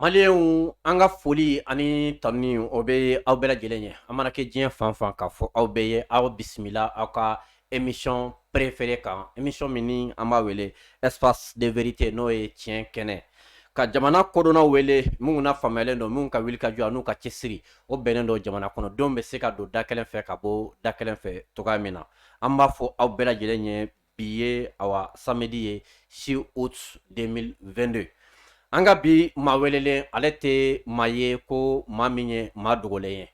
Maliyɛnw an ka foli ani tanuni o bɛ aw bɛɛ lajɛlen ye an mana kɛ diɲɛ fan fan k'a fɔ aw bɛɛ ye aw bisimila aw ka émission préférée kan émission min ni an b'a wele espace de vérité n'o ye tiɲɛ kɛnɛ ka jamana kodɔnnaw wele minnu na faamuyalen don minnu ka wulikajɔ an'u ka cɛsiri o bɛnnen don jamana kɔnɔ denw bɛ se ka don da kelen fɛ ka bɔ da kelen fɛ cogoya min na an b'a fɔ aw bɛɛ lajɛlen ye bi ye awa samedi ye 6 août 2022 an ka bi maa welelen ale tɛ maa ye ko maa min ye maa dogolen ye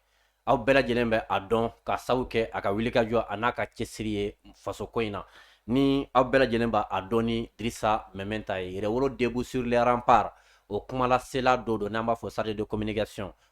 aw bɛɛ lajɛlen bɛ a dɔn k'a sabu kɛ a ka wulikajɔ an'a ka cɛsiri ye faso ko in na ni aw bɛɛ lajɛlen bɛ a dɔn ni Drissa Meminta ye yɛrɛwolo debout sur les remparts o kumalasela dɔ don n'an b'a fɔ chargé de communication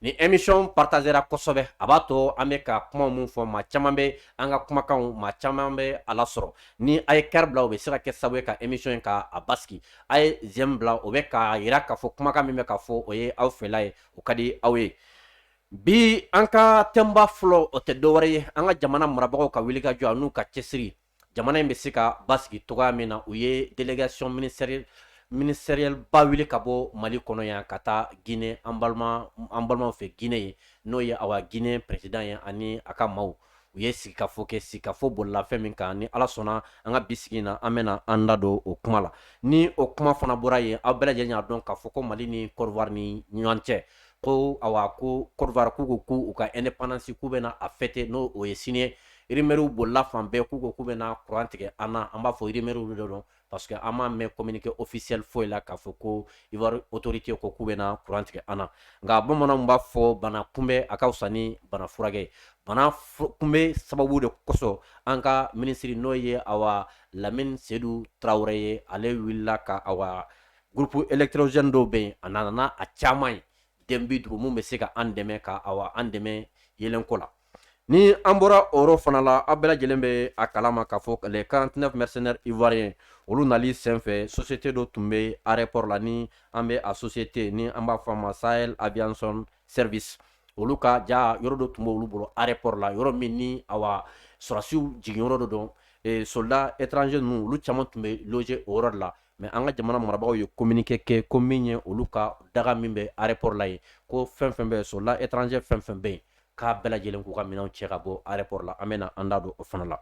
Ni émission partagera kosɛbɛ a b'a to an bɛ ka kuma min fɔ maa caman bɛ an ka kumakan maa caman bɛ a lasɔrɔ ni a ye cœur bila o bɛ se ka kɛ sababu ye ka émission in ka a basigi a ye j'aime bila o bɛ k'a jira k'a fɔ kumakan min bɛ ka fɔ o ye aw fɛla ye o ka di aw ye bi an ka thème ba fɔlɔ o tɛ dɔwɛrɛ ye an ka jamana marabagaw ka wulikajɔ an'u ka cɛsiri jamana in bɛ se ka basigi cogoya min na u ye délégation ministérielle ba wuli ka bɔ mali kɔnɔ yan ka taa gine an balimaw fɛ gine yen n'o ye awa gine président ye ani a ka maaw u ye sigikafɔ kɛ sigikafɔ bolila fɛn min kan ni ala sɔnna an ka bi sigi in na an bɛna an da don o kuma la ni o kuma fana bɔra yen aw bɛɛ lajɛlen y'a dɔn k'a fɔ ko mali ni Côte d'Ivoire ni ɲɔgɔn cɛ ko awa ko Côte d'Ivoire k'u ko ko u ka indépendance k'u bɛna a fêter n'o ye sini rumeurw bolila fan bɛɛ k'u ko k'u bɛna kuran tigɛ an na an b'a fɔ rumeurw de don parce que an m'a mɛn communiqué officiel foyi la k'a fɔ ko Ivoire autorité ko k'u bɛna kuran tigɛ an na nka bamananw b'a fɔ bana kunbɛ a ka wusa ni bana furakɛ bana kunbɛ sababu de kosɔn an ka minisiri n'o ye awa Lamine Seydou Traoré ye ale wulila ka awa groupe électrogène dɔw bɛ yen a nana n'a caman ye den bi duuru min bɛ se ka an dɛmɛ ka awa an dɛmɛ yeelenko la ni an bɔra o yɔrɔ fana la aw bɛɛ lajɛlen bɛ a kala ma k'a fɔ les 49 mercenaires ivoiriens olu nali senfɛ société dɔ tun bɛ aéroport la ni an bɛ a société ni an b'a fɔ a ma Sahel Aviation Service olu ka ja yɔrɔ dɔ tun bɛ olu bolo aéroport la yɔrɔ min ni awa sɔrɔdasiw jigin yɔrɔ dɔ don soldat étranger ninnu olu caman tun bɛ loger o yɔrɔ la mais an ka jamana marabagaw ye communiqué kɛ ko min ye olu ka daga min bɛ aéroport la yen ko fɛn fɛn bɛ soldat étranger fɛn fɛn bɛ yen k'a bɛɛ lajɛlen k'u ka minɛnw cɛ ka bɔ aéroport la an bɛna an da don o fana la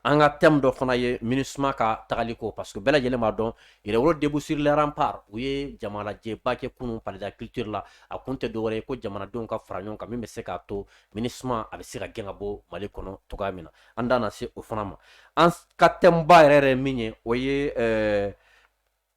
an ka thème dɔ fana ye MINUSMA ka tagali ko parce que bɛɛ lajɛlen b'a dɔn yɛrɛwolo debout sur les remparts u ye jamalajɛba kɛ kunun Palais de la culture la a kun tɛ dɔwɛrɛ ye ko jamanadenw ka fara ɲɔgɔn kan min bɛ se k'a to MINUSMA a bɛ se ka gɛn ka bɔ mali kɔnɔ cogoya min na an da na se o fana ma an ka tɛmɛba yɛrɛ yɛrɛ min ye o ye eh,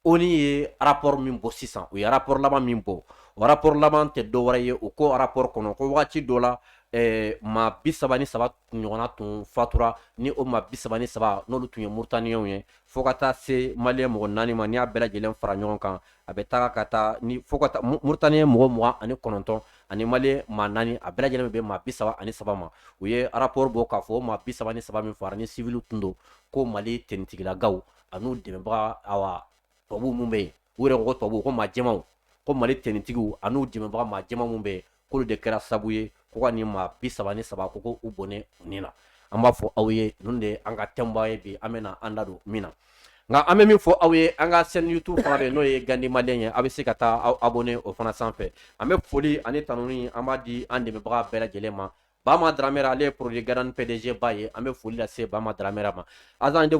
ONU ye rapport min bɔ sisan u ye rapport laban min bɔ o rapport laban tɛ dɔwɛrɛ ye u ko rapport kɔnɔ ko wagati dɔ la eh, maa bi saba ni saba ɲɔgɔnna tun fatura ni o maa bi saba ni saba n'olu tun ye murutaniyɛnw ye fo ka taa se maliyɛn mɔgɔ naani ma n'i y'a bɛɛ lajɛlen fara ɲɔgɔn kan a bɛ taga ka taa ni fo ka taa murutaniyɛn mɔgɔ mugan ani kɔnɔntɔn ani mali maa naani a bɛɛ lajɛlen bɛ maa bi saba ani saba ma u ye rapport bɔ k'a fɔ maa bi saba ni saba min fagara nin sivili tun don ko mali finitigilakaw ani u dɛmɛbagaw tubabu minnu bɛ yen u yɛrɛ ko tubabu ko maa jɛmaw ko mali finitigi ani u dɛmɛbaga maa jɛma minnu bɛ k'olu de kɛra sabu ye ko ka nin maa bi saba ni saba ko k'u bɔnɛ u ni na an b'a fɔ aw ye ninnu de an ka tɛmɛba ye bi an bɛ na an da don min na nka an bɛ min fɔ aw ye an ka chaîne YouTube fana bɛ n'o ye gandi mali ye aw bɛ se ka taa aw abonner o fana sanfɛ an bɛ foli ani tanun an b'a di an dɛmɛbaga bɛɛ lajɛlen ma bama dramera ale ye porodi garan pɛdɛjɛba ye an bɛ foli lase bama dramera ma azan de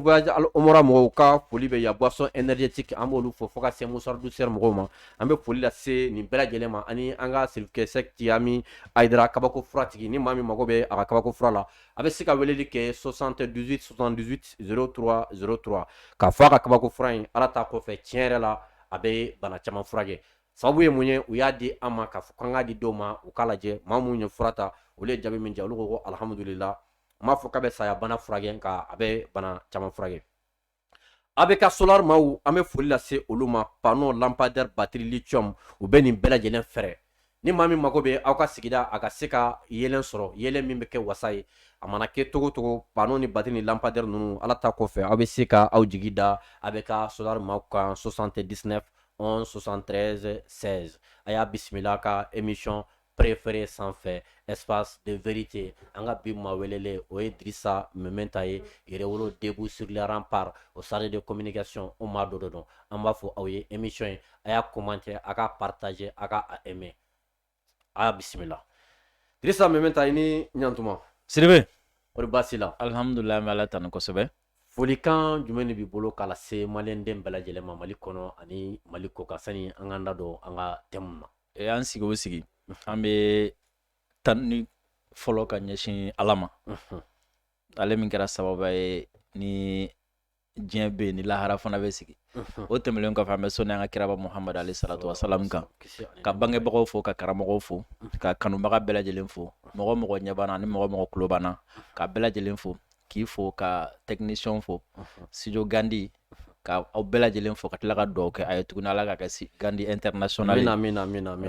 omara mɔgɔw ka foli bɛ yan boisson énergétique an b'olu fɔ fo ka se musaraw sera mɔgɔw ma an bɛ foli lase nin bɛɛ lajɛlen ma ani an ka sirikisɛsɛya min a jirara kabako furatigi ni maa min mago bɛ a ka kabako fura la a bɛ se ka weleli kɛ 78 78 03 03 k'a fɔ a ka kabako fura in ala ta kɔfɛ tiɲɛ yɛrɛ la a bɛ bana caman furakɛ sababu ye mun ye u y'a di an ma k'a fɔ k'an k'a di dɔw ma u k'a lajɛ maa minnu ye fura ta olu ye jaabi min jɛ olu ko ko alihamudulila n m'a fɔ k'a bɛ saya bana furakɛ nka a bɛ bana caman furakɛ ABK solar maaw an bɛ foli lase olu ma panneau lampadaire batterie lithium u bɛ nin bɛɛ lajɛlen feere ni maa min mago bɛ aw ka sigida a ka se ka yeelen sɔrɔ yeelen min bɛ kɛ wasa ye a mana kɛ cogo cogo panneau ni batterie ni lampadaire ninnu ala ta kɔfɛ aw bɛ se ka aw jigi da ABK solar maaw kan 79 11 73 16 a y'a bisimila ka émission préféré sanfɛ espace de vérité an ka bi maa welelen o ye Dirisa Meminta ye Yɛrɛwolo Debout sur le rempart o chargé de communication o maa dɔ de don an b'a fɔ aw ye émission in a y'a commenter a k'a partager a ka a aimer a y'a bisimila Dirisa Meminta i ni ɲantuma Siribe kɔri baasi la alihamudulila an bɛ Ala tanu kosɛbɛ folikan jumɛn de b'i bolo k'a lase maliyɛnden bɛɛ lajɛlen ma Mali kɔnɔ ani Mali kɔkan sani an k'an da don an ka thème na an sigi o sigi an bɛ tanuni fɔlɔ ka ɲɛsin ala ma ale min kɛra sababu ye ni diɲɛ bɛ ni lahara fana bɛ sigi o tɛmɛnlen kɔfɛ an bɛ sali an ka kiraba muhamadu aleyi salatu salamu kan ka bangebagaw fo ka karamɔgɔ fo ka kanubaga bɛɛ lajɛlen fo mɔgɔ mɔgɔ ɲɛ b'an na ani mɔgɔ mɔgɔ tulo b'an na ka bɛɛ lajɛlen fo k'i fo ka technicien fo sidi gandi ka aw bɛɛ lajɛlen fo ka tila ka dugaw kɛ a ye tuguni ala ka kɛ si gandi internation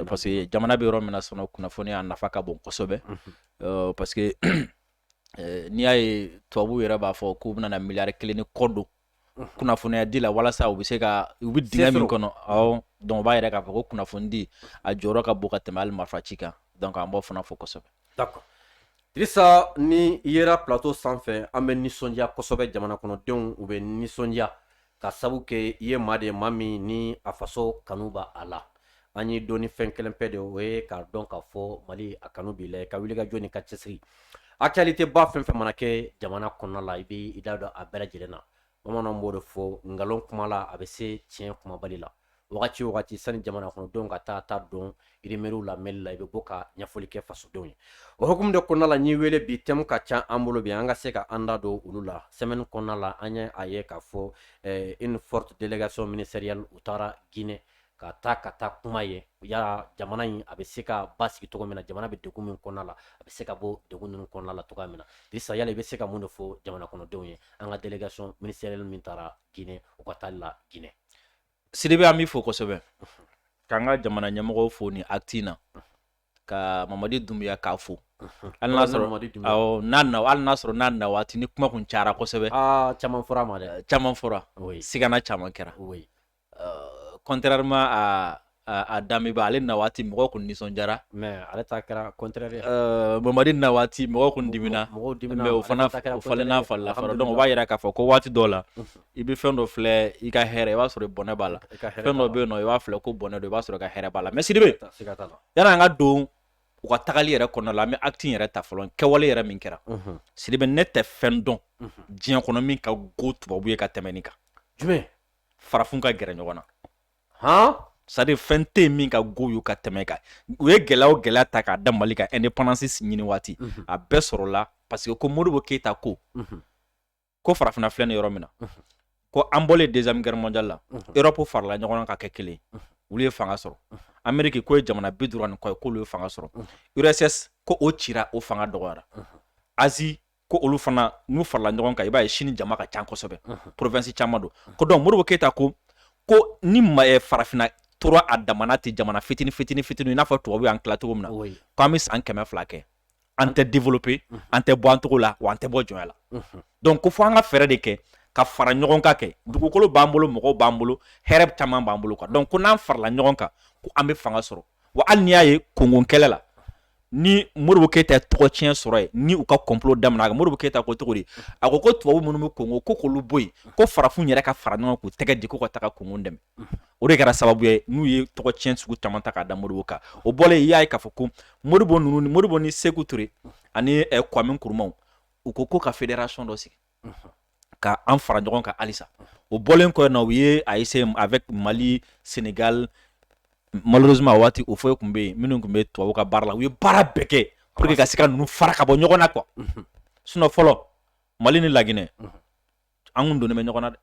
parce que jamana bɛ yɔrɔ min na sɔnɔ kunnafoniya nafa ka bon kosɛbɛ mhm. parce que eh, n'i y'a ye tubabu yɛrɛ b'a fɔ k'u bɛna miliyari kelen ni kɔ don mhm. kunnafoniya di la walasa u bɛ se ka u bɛ dingɛ min kɔnɔ ɔ donc b'a yira k'a fɔ ko kunnafoni di a jɔyɔrɔ ka bon ka tɛmɛ hali marifa ci kan donc an b'o fana fo kosɛbɛ Drisa ni i yera plateau sanfɛ an bɛ nisɔndiya kosɛbɛ jamana kɔnɔdenw u bɛ nisɔndiya k'a sabu kɛ i ye maa de ma min ni a faso kanu b'a la an y'i dɔn ni fɛn kelen pe de o ye k'a dɔn k'a fɔ mali a kanu b'i la ka wuli ka jɔ ni ka cɛsiri actualité ba fɛn fɛn mana kɛ jamana kɔnɔ la i b' i da don a bɛɛ lajɛlen na bamananw b'o de fɔ nkalon kumala a bɛ se tiɲɛ kumabali la wagati o wagati sani jamana kɔnɔdenw ka taa ta don irimeriw la mɛli la i bɛ bɔ ka ɲɛfɔli kɛ fasodenw ye o hukumu de kɔnɔna la n'i wele bi thème ka ca an bolo bi an ka se ka an da don olu la semaine kɔnɔna la an ye a ye k'a fɔ une forte délégation ministérielle u taara Guinée ka taa ka taa kuma ye yala jamana in a bɛ se ka basigi cogo min na jamana bɛ degun min kɔnɔna la a bɛ se ka bɔ degun ninnu kɔnɔna la cogoya min na Drisa yala i bɛ se ka mun de fɔ jamana kɔnɔdenw ye an ka delegation ministerielle min taara Guinée u ka taali la Guinée Sidibe an b'i fo kosɛbɛ k'an ka jamana ɲɛmɔgɔw fo nin acte na ka Mamadi Dumbuya k'a fo hali n'a sɔrɔ awɔ n'a na hali n'a sɔrɔ n'a na waati ni kuma kun cayara kosɛbɛ caman fɔra a ma dɛ caman fɔra sigana caman kɛra contrairement à damiba ale na waati mɔgɔ tun nisɔndiyara mais ale kɛra comme mamadi na waati mɔgɔ tun dimina o fana falen n'a fa la donc o b'a jira k'a fɔ ko waati dɔ la i bɛ fɛn dɔ filɛ i ka hɛrɛ i b'a sɔrɔ bɔnɛ b'a la fɛn dɔ bɛ yen i b'a filɛ ko bɔnɛ don i b'a sɔrɔ ka hɛrɛ b'a la mais sidibe yanni an ka don u ka tagali yɛrɛ kɔnɔ la n bɛ acte yɛrɛ ta fɔlɔ kɛwale yɛrɛ min kɛra sidibe ne tɛ fɛn dɔn diɲɛ kɔnɔ min ka go tubabu ye ka tɛmɛ nin kan jumɛn farafin ka gɛrɛ ɲɔgɔn na han c'est-à-dire fɛn tɛ min ka go u ye ka tɛmɛ o kan u ye gɛlɛya o gɛlɛya ta k'a da mali kan independence ɲini waati mhm. a bɛɛ sɔrɔla parce que ko modibo keyita ko mhm. ko farafinna filɛ ni yɔrɔ min na mhm. ko an bɔlen deuxième guerre mondiale la europe farala ɲɔgɔn na ka kɛ kelen olu ye fanga sɔrɔ ameriki k'o ye jamana bi duuru ani kɔ ye k'olu ye fanga sɔrɔ urss ko o cira o fanga dɔgɔyara asie ko olu fana n'u farala ɲɔgɔn kan i b'a ye chine jama ka ca kosɛbɛ province caman don ko donc modibo keyita ko ko ni eh, farafina tora a dama na ten jamana fitini fitini fitini i n'a fɔ tubabu y'an tila cogo min na ko an bɛ san kɛmɛ fila kɛ an tɛ développer an tɛ bɔ nɔgɔ la wa an tɛ bɔ jɔnya la donc ko fo an ka fɛɛrɛ de kɛ ka fara ɲɔgɔn kan kɛ dugukolo b'an bolo mɔgɔw b'an bolo hɛrɛ caman b'an bolo quoi donc ko n'an farala ɲɔgɔn kan ko an bɛ fanga sɔrɔ wa hali n'i y'a ye kongo kɛlɛ la ni modibo keyita tɔgɔ tiɲɛ sɔrɔ ye ni u ka kɔnplo da a modibo keyita ko cogo di a ko ko tubabu minnu bɛ kongo ko k'olu bɔ yen ko farafin yɛrɛ ka fara ɲɔgɔn k'u tɛgɛ di ko ka taa kongo dɛmɛ o de kɛra sababu ye n'u ye tɔgɔ cɛn sugu caman ta k'a da modibo kan o bɔlen y'a ye k'a fɔ ko modibo ninnu modibo ni seku ture ani kuwami nkuruma u ko ko ka federasɔn dɔ sigi ka an fara ɲɔgɔn kan halisa o bɔlen kɔ na u y'a essayé avec mali senegali malheureusement waati o foyi tun bɛ yen minnu tun bɛ tubabu ka baara la u ye baara bɛɛ kɛ pour que ka se ka ninnu fara ka bɔ ɲɔgɔn na quoi sinon fɔlɔ mali ni laginɛ an kun donnen bɛ ɲɔgɔn na dɛ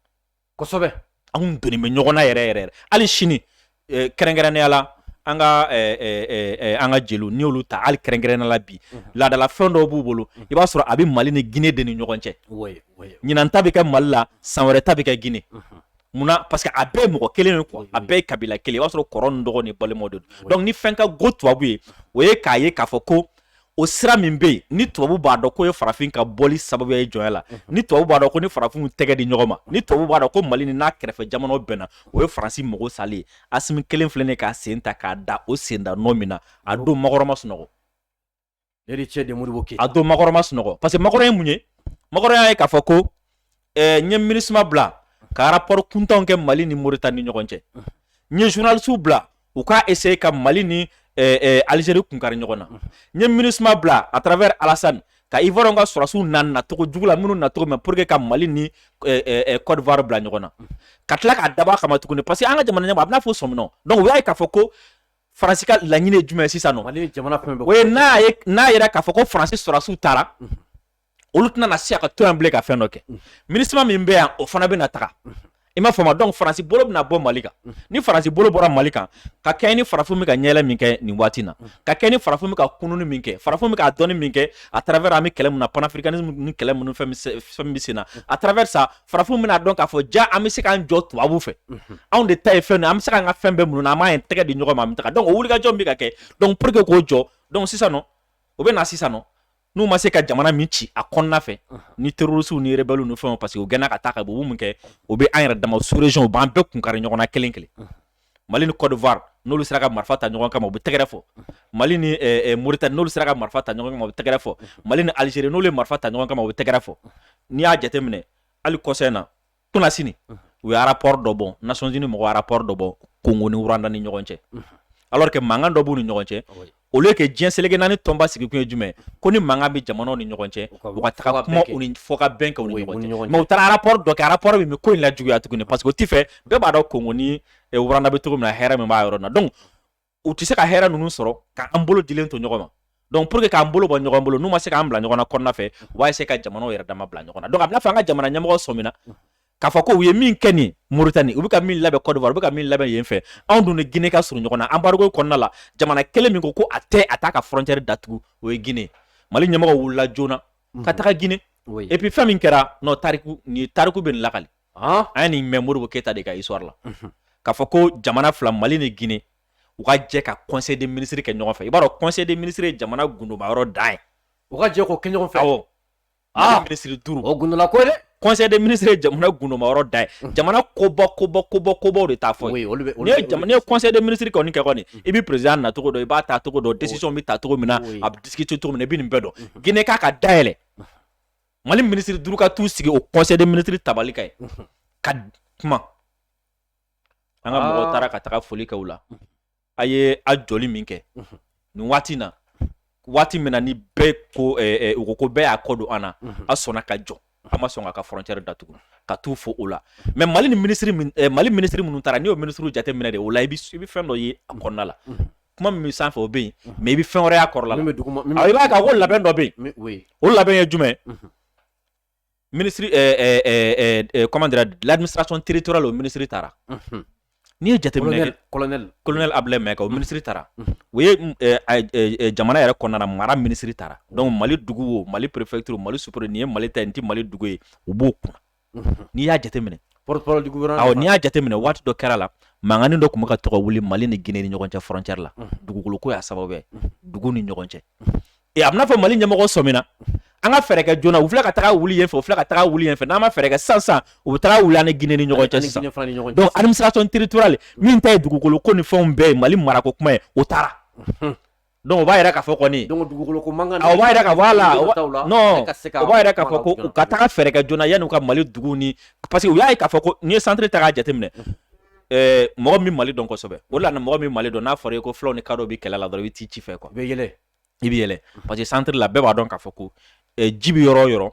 kosɛbɛ anw donnen bɛ ɲɔgɔnna yɛrɛ yɛrɛ hali sini eh, kɛrɛnkɛrɛnnenya la an ka eh, eh, an ka jeliw n'i y'olu ta hali kɛrɛnkɛrɛnnenya la bi mhm. laadala fɛn dɔw b'u bolo mhm. i b'a sɔrɔ a bɛ mali ni gine de ni ɲɔgɔn cɛ ɲinan ta bɛ kɛ mali la san wɛrɛ ta bɛ kɛ gine mhm. munna parce que a bɛɛ ye mɔgɔ kelen ye quoi a bɛɛ ye kabila kelen i b'a sɔrɔ kɔrɔ ni dɔgɔ ni balimaw de don donc ni fɛn ka go tubabu ye o ye k'a ye k'a fɔ ko o sira min bɛ yen ni tubabu b'a dɔn k'o ye farafin ka bɔli sababu ye jɔnya la mhm. ni tubabu b'a dɔn ko ni farafinw tɛgɛ di ɲɔgɔn ma ni tubabu b'a dɔn ko mali ni n'a kɛrɛfɛ jamanaw bɛnna o ye faransi mago salen ye asimi kelen filɛ ne k'a sen ta k'a da o sen da nɔ min na a don makɔrɔn ma sunɔgɔ a don makɔrɔn ma sunɔgɔ parce que makɔrɔn ye mun ye makɔrɔn y'a ye k'a fɔ ko ɛɛ n ye MINUSMA bila ka rapport kuntanw kɛ Mali ni Mauritanie ni ɲɔgɔn cɛ n ye journalistes bila u k'a essayer ka Mali ni ɛɛ ɛɛ Algérie kun kari ɲɔgɔn na n ye MINUSMA bila à travers Alassane ka Ivoiriyɛnw ka sɔrɔdasiw na nacogo jugu la minnu nacogo mɛn pour que ka Mali ni ɛɛ ɛɛ Côte d'Ivoire bila ɲɔgɔn na ka tila k'a dabɔ a kama tuguni parce que an ka jamana ɲɛmɔgɔ a bɛna fɔ sɔminɔ donc u y'a ye k'a fɔ ko faransi ka laɲini ye jumɛn ye sisan nɔ o ye n'a ye n'a yera k'a fɔ ko faransi sɔrɔdasiw taara olu tɛna na se ka to yan bilen ka fɛn dɔ kɛ minusma min bɛ yan o fana bɛ na taga i m'a faamu donc faransi bolo bɛna bɔ mali kan ni faransi bolo bɔra mali kan ka kɛ ni farafin bɛ ka ɲɛyɛlɛ min kɛ nin waati na ka kɛ ni farafin bɛ ka kununni min kɛ farafin bɛ ka dɔnni min kɛ à travers an bɛ kɛlɛ min na panafricanisme ni kɛlɛ minnu fɛn min bɛ sen na à travers ça farafin bɛna dɔn k'a fɔ jaa an bɛ se k'an jɔ tubabu fɛ anw de ta ye fɛn an bɛ se k'an ka fɛn bɛɛ minnu na an b'an tɛgɛ di ɲɔgɔn ma an bɛ taga donc o wulikajɔ min bɛ ka kɛ donc pour que k'o jɔ donc sisan nɔ o bɛ na sisan nɔ n'u ma se ka jamana min ci a kɔnɔna fɛ ni terorisiw ni rebɛliw ni fɛn parce que u gɛnna ka taa ka bɔ min kɛ u bɛ an yɛrɛ dama sous-région u b'an bɛɛ kun kari ɲɔgɔn na kelen kelen mali ni kɔdiwari n'olu sera ka marifa ta ɲɔgɔn kama u bɛ tɛgɛrɛ fɔ mali ni eh, eh, moritani n'olu sera ka marifa ta ɲɔgɔn kama u bɛ tɛgɛrɛ fɔ mali ni alizeri n'olu ye marifa ta ɲɔgɔn kama u bɛ tɛgɛrɛ fɔ n'i y'a jateminɛ hali kɔsa in na nations unies u ye rapport dɔ bɔ nations unies mɔgɔ rapport dɔ bɔ kongo ni rwanda ni ɲɔgɔn cɛ alors que mankan dɔ b'u ni ɲɔgɔn cɛ olu ye kɛ diɲɛ seleke naani tɔnba sigikun ye jumɛn ko ni mankan bɛ jamana ni ɲɔgɔn cɛ fɔkabɛn kɛ u taara rapport dɔ kɛ rapport bɛ ko in lajuguya tuguni parce que u t'a fɛ bɛɛ b'a dɔn kongo ni rwanda bɛ cogo min na hɛrɛ min b'a yɔrɔ na donc u tɛ se ka hɛrɛ ninnu sɔrɔ k'an bolo dilen to ɲɔgɔn ma donc pour que k'an bolo bɔ ɲɔgɔn bolo n'u ma se k'an bila ɲɔgɔn na kɔnɔna fɛ u b'a essayer ka jamanaw yɛrɛ dama bila ɲɔgɔn na donc a bɛna fɔ an ka jamana ɲɛmɔgɔ sɔmina k'a fɔ ko u ye min kɛ ni Mauritanie u bɛ ka min labɛn Côte d'Ivoire u bɛ ka min labɛn yen fɛ anw dun ni Guinée ka surun ɲɔgɔn na embargo kɔnɔna la jamana kelen min ko ko a tɛ a t'a ka frontière datugu o ye Guinée Mali ɲɛmɔgɔ wulila joona ka taga Guinée et puis fɛn min kɛra non tariku ni tariku bɛ nin lakali an ye nin mɛn modibo keyita de ka histoire la k'a fɔ ko jamana fila mali ni guinée u ka jɛ ka conseil des ministres kɛ ɲɔgɔn fɛ i b'a dɔn conseil des ministres ye jamana gundoba yɔrɔ dan ye u ka jɛ k'o kɛ ɲɔgɔn fɛ awɔ ah ministre duuru o gundola ko ye dɛ conseil des ministres ye jamana gundoba yɔrɔ dan ye jamana koba koba koba kobaw de t'a fɔ oui olu bɛ n'i ye jamana n'i ye conseil des ministres kɔni kɛ kɔni i bɛ président na cogo dɔn i b'a taa cogo dɔn décision bɛ ta cogo min na a bɛ discuter cogo min na i bɛ nin bɛɛ dɔn guinée k'a ka da yɛlɛ mali minisiri duuru ka t'u sigi o conseil des ministres tabali kan yen ka kuma an ka mɔgɔ ah. taara ka taga foli kɛ la a ye a jɔli min kɛ nin waati na waati min na ni bɛɛ ko eh, eh, u ko ko bɛɛ y'a kɔ don an na a sɔnna ka jɔ a ma sɔn k'a ka frontière datugu ka t'u fo o la mais mali ni minisiri eh, mali minisiri minnu taara n'i y'o minisiriw jate minɛ de o la i bɛ fɛn dɔ ye a kɔnɔna la kuma min sanfɛ o bɛ yen mais i bɛ fɛn wɛrɛ ye a kɔrɔ la i b'a ka ko labɛn dɔ bɛ yen o labɛn ye jumɛn minisiri comment dire l'administration territoriale o minisiri taara n'i y'a jateminɛ colonel abdoulaye maïga minisiri taara o ye jamana yɛrɛ kɔnɔna mara minisiri taara donc mali dugu mali perefɛturu mali supur nin ye mali ta nin tɛ mali dugu ye u b'o kun n'i y'a jateminɛ n'i y'a jateminɛ waati dɔ kɛra la mankan dɔ tun bɛ ka to ka wuli mali ni guinée ni ɲɔgɔn cɛ frontière la dugukolo ko y'a sababu ye dugu ni ɲɔgɔn cɛ a bɛna fɔ mali ɲɛmɔgɔ sɔmina an ka fɛɛrɛ kɛ joona u fila ka taa wuli fɛ u fila ka taa wuli fɛ n'an ma fɛɛrɛ kɛ sisan u bɛ taa wuli ni guinée ni ɲɔgɔn cɛ sisan administration territoriale min ta ye dugukolo ko ni fɛnw bɛɛ ye mali marako kuma ye o taara Donc o b'a yira k'a fɔ kɔni donc dugukolo ko mankan o b'a yɛrɛ ka bɔ a la non o b'a yira k'a fɔ ko u ka taga fɛɛrɛ kɛ joona yanni u ka Mali duguw ni parce que u y'a ye k'a fɔ ko n'i ye centre ta k'a jateminɛ ɛɛ mɔgɔ min Mali dɔn kosɛbɛ o la mɔgɔ min Mali dɔn n'a fɔra i ye ko fulaw ni kadɔw bɛ kɛlɛ la dɔrɔn i bɛ t'i ci fɛ quoi i bɛ yɛlɛ i bɛ yɛlɛ parce que centre la bɛɛ b'a dɔn k'a fɔ ko ji bɛ yɔrɔ o yɔrɔ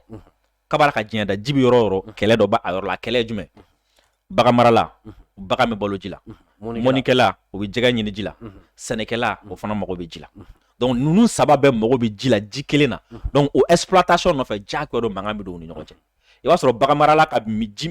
kabi ala ka diɲɛ da ji bɛ yɔrɔ o yɔrɔ kɛlɛ dɔ b'a yɔrɔ la kɛlɛ jumɛn bagan marala bagan bɛ balo ji la mɔnikɛla o bɛ jɛgɛ ɲini ji la sɛnɛkɛla o fana mago bɛ ji la donc ninnu saba bɛɛ mago bɛ ji la ji kelen na donc o exploitation nɔfɛ chaque don mankan bɛ don u ni ɲɔgɔn cɛ i b'a sɔrɔ bagan marala ka ji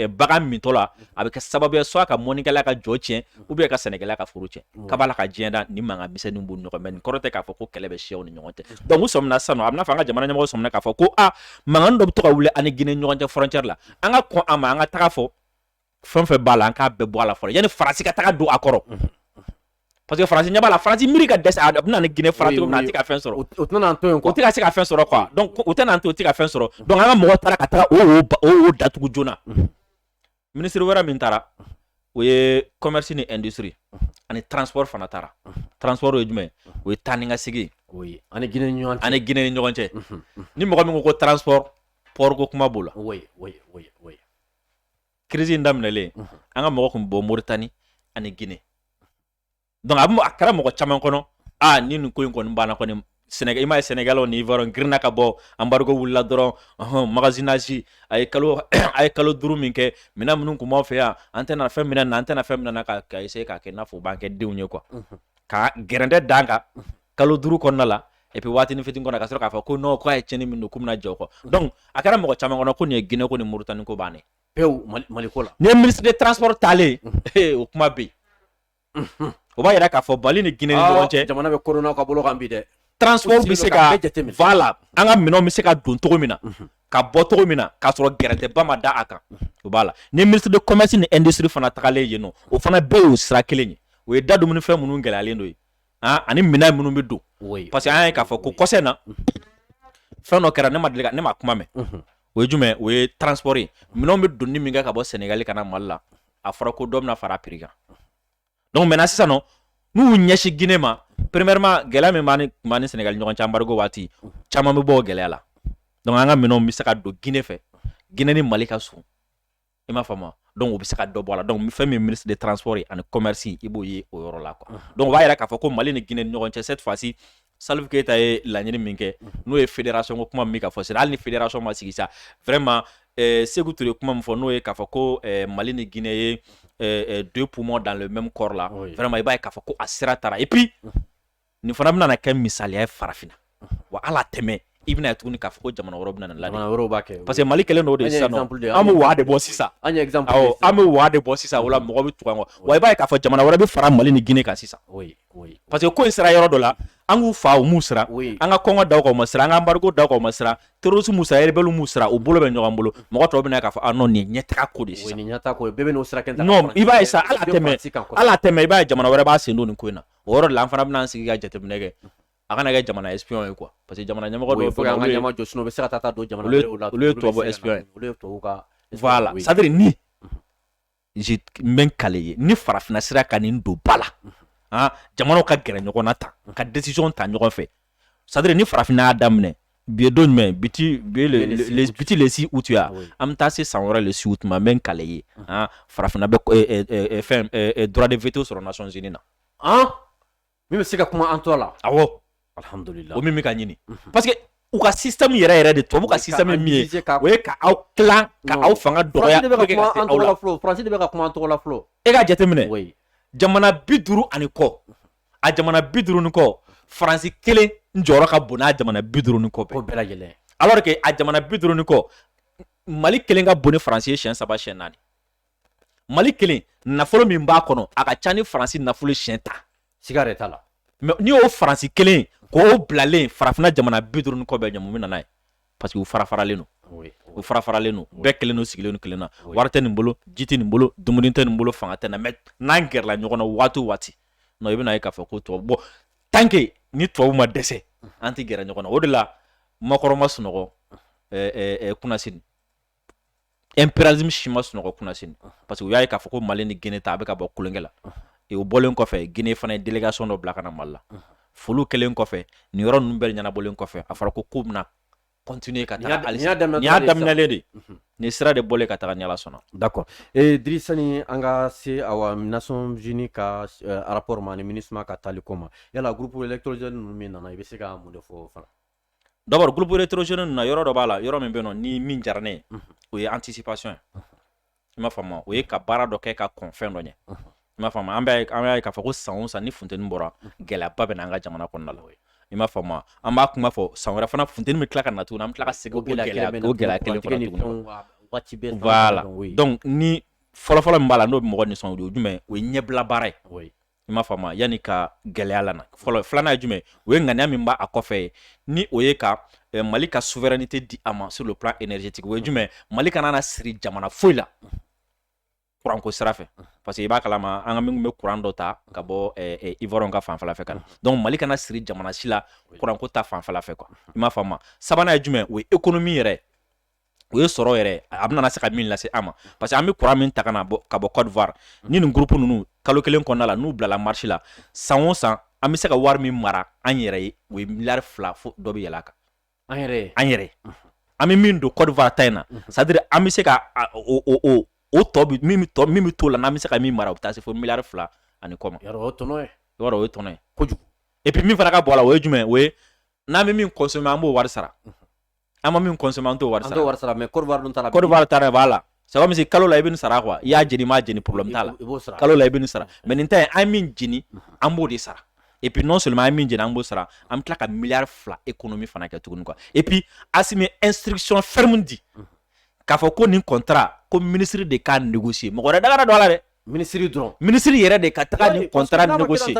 bagan mintɔ la a bɛ kɛ sababu ye soit ka mɔnikɛla ka jɔ tiɲɛ u bɛ ka sɛnɛgali ka forcer ka b'a la ka diɲɛ da ni mankan misɛnnin b'u ɲɔgɔn cɛ nin kɔrɔ tɛ k'a fɔ ko kɛlɛ bɛ siyaw ni ɲɔgɔn cɛ dɔnku sɔmina sanu a bɛna fɔ an ka jamana ɲɛmɔgɔ sɔmina k'a fɔ ko a mankan dɔ bɛ to ka wuli an ni gine ɲɔgɔn cɛ furancɛ la an ka kɔn a ma an ka taga fɔ fɛn o fɛn b'a la an k'a bɛɛ bɔ a la fɔlɔ yanni faransi ka taga don a kɔrɔ parce que faransi ɲɛ b'a la faransi miiri ka dɛsɛ a bɛn'an ni gine fara cogo min a tɛ ka fɛn sɔrɔ o tɛna to yen o tɛ ka se ka fɛn sɔrɔ quoi donc o tɛna to o tɛ ka fɛn sɔrɔ donc an ka mɔgɔ taara ka taga o wo datugu joona minisiri wɛrɛ min taara o ye commerce ni industrie ani transport fana taara transport ye jumɛn o ye taa ni ka segin an ni gine ni ɲɔgɔn cɛ ni mɔgɔ min ko ko transport pɔɔriko kuma b'o la crise in daminɛlen an ka mɔgɔ tun bɔ moritani ani gine dɔnku a bɛ a kɛra mɔgɔ caman kɔnɔ aa ni nin ko in kɔni banna kɔni sɛnɛ i ma ye sɛnɛgali ni yɔrɔ girinna ka bɔ anbarigo wulila dɔrɔn ɔhɔn magasinage a ye kalo a ye kalo duuru min kɛ minɛn minnu tun b'aw fɛ yan an tɛna fɛn minɛ na an tɛna fɛn minɛ na ka ka essayer k'a kɛ i n'a fɔ u b'an kɛ denw ye quoi ka gɛrɛntɛ da an kan kalo duuru kɔnɔna la et puis waatini fitini kɔnɔ ka sɔrɔ k'a fɔ ko non k'a ye tiɲɛni min don k'u bɛna jɔ kɔ donc a kɛra mɔgɔ caman kɔnɔ ko nin ye Guinée ko ni Mauritanie ko bannen pewu Mali ko la nin ye ministre de transport taalen o kuma bɛ yen o b'a yira k'a fɔ mali ni gine ni ɲɔgɔn cɛ jamana bɛ kolonɛli ka bolo kan bi dɛ transport bɛ se ka voilà an ka minɛnw bɛ se ka don cogo min na ka bɔ cogo min na k'a sɔrɔ gɛrɛntɛba ma da a kan o b'a la ni ministre de commerce ni industrie fana tagalen yen nɔ o fana bɛɛ y'o sira kelen ye o ye da dumunifɛn minnu gɛlɛyalen don ye ani minɛn minnu bɛ don parce que an ye k'a fɔ ko kɔ in na fɛn dɔ kɛra ne ma deli ne ma kuma mɛn o ye jumɛn o ye transport ye minɛn bɛ donni min kɛ ka bɔ sɛnɛgali ka na mali la a fɔra ko dɔ bɛna fara prix kan donc mɛ sisan nɔ n'u ɲɛsin gine ma premièrement gɛlɛya min b'an tun ni sɛnɛgali ɲɔgɔn cɛ anbarigo waati caman bɛ bɔ gɛlɛya la donc an ka minɛn bɛ se ka don gine fɛ gine ni mali ka sun i m'a faamu donc u bɛ se ka dɔ bɔ a la donc fɛn min ministre de transport ye ani commerce i b'o ye o yɔrɔ la quoi uh-huh. donc o b'a yira k'a fɔ ko mali ni guinée ni ɲɔgɔn cɛ cette fois ci Salif Keita ye laɲini min kɛ uh-huh. n'o ye fédération ko kuma min ka fɔ sera hali ni fédération ma sigi sa vraiment eh, Sekou Touré kuma min fɔ n'o ye k'a fɔ ko eh, Mali ni Guinée ye eh, eh, deux poumons dans le même corps là oui. vraiment i b'a ye k'a fɔ ko a sira taara et puis uh-huh. nin fana bɛna kɛ misaliya ye farafinna wa à long terme i bɛna tuguni k'a fɔ ko jamana wɛrɛ bɛna la yɔrɔ b'a kɛ parce que mali kelen dɔrɔn de sisan an bɛ waa de bɔ sisan an bɛ waa de bɔ sisan wala mɔgɔ bɛ tugu an kɔ wa i b'a ye k'a fɔ jamana wɛrɛ bɛ fara mali ni gine kan sisan parce que ko in sera yɔrɔ dɔ la an k'u fa u ma siran an ka kɔngɔ d'u kan u ma siran an ka anbarigo d'u kan u ma siran terrorisme m'u siran rebelle m'u siran u bolo bɛ ɲɔgɔn bolo mɔgɔ tɔw bɛna k'a fɔ ah non nin ye ɲɛtaga ko de sisan nin ɲɛtaga ko bɛɛ bɛn'o sira kelen ta non i b'a ye sa à long terme à long terme i b'a ye jamana wɛrɛ b'a sen don nin ko in na o yɔrɔ la an fana bɛna an sigi ka jateminɛ kɛ a kana kɛ jamana espion ye quoi parce que jamana ɲɛmɔgɔ dɔw fɛ an ka ɲɛmɔgɔ jɔsino bɛ se ka taa taa don jamana wɛrɛw la olu ye tubabu espion ye olu ye tubabu ka voilà c'est à dire ne n bɛ kali i ye ni farafinna sera ka nin don ba la ah jamanaw ka gɛrɛ ɲɔgɔn na tan ka décision ta ɲɔgɔn fɛ c'est à dire ni farafinna y'a daminɛ bi don jumɛn bi tɛ bi tɛ le six août ye a an bɛ taa se san wɛrɛ le six août ma n bɛ kali i ye farafinna bɛ fɛn droit de veto sɔrɔ nations unies na min bɛ se ka kuma an tɔ la a alihamdulila o min bɛ ka ɲini parce que u ka système yɛrɛ yɛrɛ de tubabu ka système min ye o ye ka aw ka aw fanga dɔgɔya de bɛ ka kuma tɔgɔ la fɔlɔ e ka jateminɛ jamana bi duuru ani kɔ a jamana bi duuru ni kɔ faransi kelen n jɔyɔrɔ ka bon n'a jamana bi duuru ni kɔ bɛɛ bɛɛ lajɛlen alors que a jamana bi duuru ni kɔ mali kelen ka bon ni faransi ye siyɛn saba siyɛn naani mali kelen nafolo min b'a kɔnɔ a ka ca ni faransi nafolo siyɛn tan siga de t'a la mais n'i y'o faransi kelen ye k'o bilalen farafinna jamana bi duuru ni kɔ bɛɛ ɲɛ mun nana n'a ye parce que u fara faralen don u fara faralen don bɛɛ kelen don sigilen u kelen na wari tɛ nin bolo ji tɛ nin bolo dumuni tɛ nin bolo fanga tɛ na mais n'an gɛrɛla ɲɔgɔn na waati waati non i bɛna ye k'a fɔ ko tubabu bɔ tant que ni tubabu ma dɛsɛ an tɛ gɛrɛ ɲɔgɔn na o de la macron ma sunɔgɔ kunasini impérialistes si ma sunɔgɔ kunasini parce que u y'a ye k'a fɔ ko mali ni gine ta a bɛ ka bɔ kolonkɛ la u bɔlen kɔfɛ gine fana ye délégation dɔ bila ka na mali la foli kɛlen kɔfɛ nin yɔrɔ ninnu bɛɛ ɲɛnabɔlen kɔfɛ a fɔra ko k'u bɛna continuer ka y'a daminɛlen de nin sira de bɔ ka taa ni ala sɔnna d'accord ee drisa sani an ka se a nations unies ka rapport ma ni minusma ka taali ko ma yala groupe électrogène ninnu min nana i bɛ se ka mun de fɔ fana d'abord groupe électrogène ninnu na yɔrɔ dɔ b'a la yɔrɔ min bɛ nɔ ni min diyara ne o ye anticipation ye i m'a faamuya o ye ka baara dɔ kɛ ka kɔn fɛn dɔ ɲɛ i m'a faamu an b'a ye k'a fɔ ko san san ni funteni bɔra gɛlɛyaba bɛ na an ka jamana kɔnɔna la i m'a faamu an b'a kuma fɔ san wɛrɛ fana funteni bɛ tila ka na tuguni an tila ka segin a la ni fɔlɔfɔlɔ b'a la n'o bɛ mɔgɔ nisɔndiya o jumɛn o ye ɲɛbila baara ye i m'a faamu yanni ka gɛlɛya lana fɔlɔ filanan ye jumɛn o ye ŋaniya min b'a a kɔfɛ ye ni o ye ka eh, mali ka souveraineté di a ma sur le plan énergétique o ye jumɛn mali kana na siri jamana foyi la kuranko sira fɛ parce que i b'a kalama an ka minnu bɛ kuran dɔ ta ka bɔ eh, eh, ivoiriens ka fanfɛla fɛ ka na donc mali kana siri jamana si la kuranko ta fanfɛla fɛ quoi i m'a faamu sabanan ye jumɛn o ye économie yɛrɛ o ye sɔrɔ yɛrɛ a bɛna se ka min lase an ma parce que an bɛ kuran min ta ka bɔ ka bɔ kɔdiwari ni nin groupe ninnu kalo kelen kɔnɔna la n'u bilala marche la san o san an bɛ se ka wari min mara an yɛrɛ ye o ye miliyari fila fo dɔ bɛ yɛlɛ a kan an yɛrɛ an yɛrɛ an bɛ min don kɔdiwari ta in na c'est à dire an bɛ se ka o tɔ min bɛ to la an bɛ se ka min mara o bɛ taa se fo miliyari fila ani kɔ ma o ye tɔnɔ kojugu et puis min fana ka bɔ la o ye jumɛn o ye n'an bɛ min consommer an b'o wari sara an ma min consommer an t'o wari wari mais kɔrɔba dun taara kɔrɔba taara b'a la saba misi kalo la i bɛ sara quoi i y'a jeni i m'a jeni problème t'a la kalo la i bɛ sara mais nin ta an min jeni an b'o de sara et puis non seulement an min jeni an b'o sara an bɛ tila ka miliyari fila économie fana kɛ tuguni quoi et puis asimi ye instruction ferme di k'a fɔ ko nin kɔntara ko minisiri de k'a négocier mɔgɔ wɛrɛ kana don a la dɛ minisiri dɔrɔn minisiri yɛrɛ de ka taga nin kɔntara négocier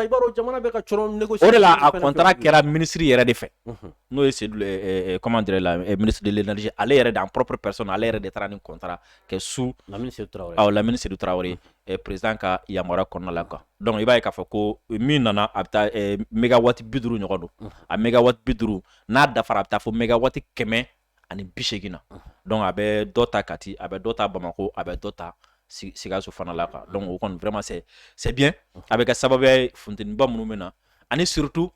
o de la a kɔntara kɛra minisiri yɛrɛ de fɛ mhm. n'o ye sedu comment dire là ministre de l'énergie ale yɛrɛ de en propre personne ale yɛrɛ de taara nin kɔntara kɛ monsieur lamini sedu tarawele awɔ lamini sedu tarawele mhm. président ka yamaruya kɔnɔna la quoi donc i b'a ye k'a fɔ ko min nana a bɛ taa mégawatt bi duuru ɲɔgɔn don mhm. a mégawatt bi duuru n'a dafara a bɛ taa fo mégawatt kɛmɛ ani bi segin na donc a bɛ dɔ ta kati a bɛ dɔ ta bamakɔ a bɛ dɔ ta sikaso fana la quoi donc o kɔni vraiment c'est c'est bien a bɛ kɛ sababuya ye funteniba minnu bɛ na ani surtout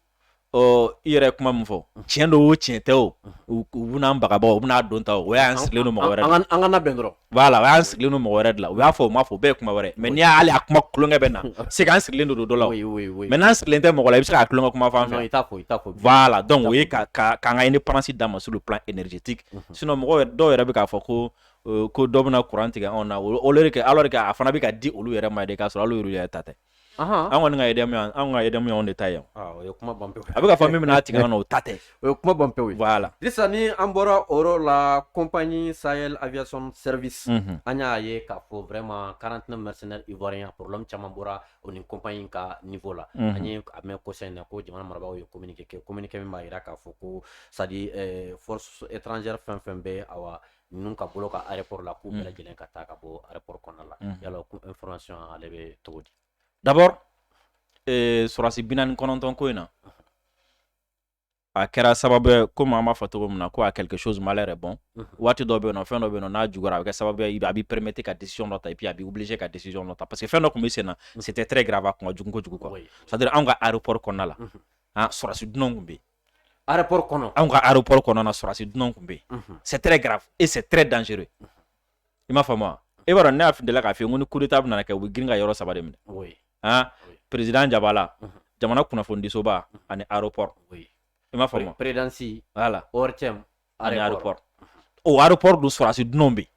ɔ i yɛrɛ kuma min fɔ tiɲɛ don o tiɲɛ tɛ o u bɛn'an bagabaga u bɛn'a don ta o o y'an sirilen don mɔgɔ wɛrɛ la an kana bɛn dɔrɔn Voilà o y'an sirilen don mɔgɔ wɛrɛ de la u y'a fɔ o ma fɔ bɛɛ kuma wɛrɛ mɛ n' y'ale a kuma tulonkɛ bɛ na se an sirilen don dɔ la mais n'an sirilen tɛ mɔgɔ la i bɛ se ka tulonkɛ kuma fan fɛ donc o ye k'an ka indépendance dama sur le plan énergétique sinon mɔgɔ dɔw yɛrɛ bɛ k'a fɔ ko ko dɔ bɛna kuran tigɛ anw na kɛ alors que a fana bɛ ka di olu yɛrɛ ma de k'a sɔrɔ olu yɛrɛ ta tɛ an kɔni ka yɛrɛmu an ka yɛrɛmu de ta yan o ye kuma ban a bɛ ka fɔ min bɛn'a tigɛ o ta tɛ o ye kuma ban pe la sisan ni an bɔra o la compagnie sahel aviation service an y'a ye k'a fɔ vraiment quarante-neuf mercenaires ivoiriens problème caman bɔra o nin compagnie ka niveau la an ye a mɛn kɔsa in na ko jamana marabagaw ye ko kɛ communiqué min b'a jira k'a fɔ ko c'est à dire force étrangère fɛn fɛn bɛ a wa ninnu ka bolo kan aéroport la k'u bɛɛ mm. lajɛlen ka taa ka bɔ aéroport kɔnɔna la mm. yala ko information ale bɛ cogo di d'abord eh, sɔrɔdasi bi naani kɔnɔntɔn ko in na a kɛra sababu ye komi an b'a fɔ cogo min na ko à quelque chose malheur est bon mhm. waati dɔ bɛ yen nɔ fɛn dɔ bɛ yen nɔ n'a juguyara a bɛ kɛ sababu ye a b'i permettre ka décision dɔ ta et puis a b'i obliger ka décision dɔ ta parce que fɛn dɔ tun bɛ sen na mhm. c'était très grave a kun ka jugu kojugu quoi c'est à dire anw ka aéroport kɔnɔna la mhm. an ah, sɔrɔdasi dunanw tun bɛ yen kɔnɔ anw ka aéroport kɔnɔna sɔrɔdasi dunan tun bɛ yen c'est très grave et c'est très dangereux i m'a faamuya e b'a ne y'a fili la k'a fɔ ko ni coup d'état bɛna kɛ u bɛ girin ka yɔrɔ saba de minɛ aa président jabala jamana kunnafonidisoba ani aéroport i m'a fɔ présidence la ani aéroport o aéroport dun sɔrɔdasi dunanw bɛ yen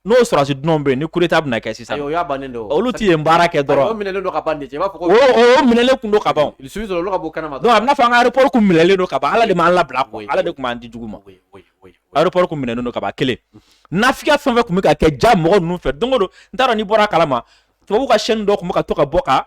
n'o sɔrɔdasi dunanw bɛ yen ni kudeta bɛna kɛ sisan o y'a bannen don olu tɛ yen baara kɛ dɔrɔn o minɛlen don ka ban de i b'a fɔ ko o minɛlen kun don ka ban su sɔrɔ olu ka bɔ kɛnɛma donc a bɛna fɔ an ka aéroport kun minɛlen don ka ban ala de m'an labila koyi ala de tun m'an di jugu ma aéroport kun minɛlen don ka ban kelen nafigiya fɛn fɛn tun bɛ ka kɛ ja mɔgɔ ninnu fɛ don o don n t'a dɔn n'i bɔra a kalama tubabuw ka chaîne dɔ tun bɛ ka to ka bɔ ka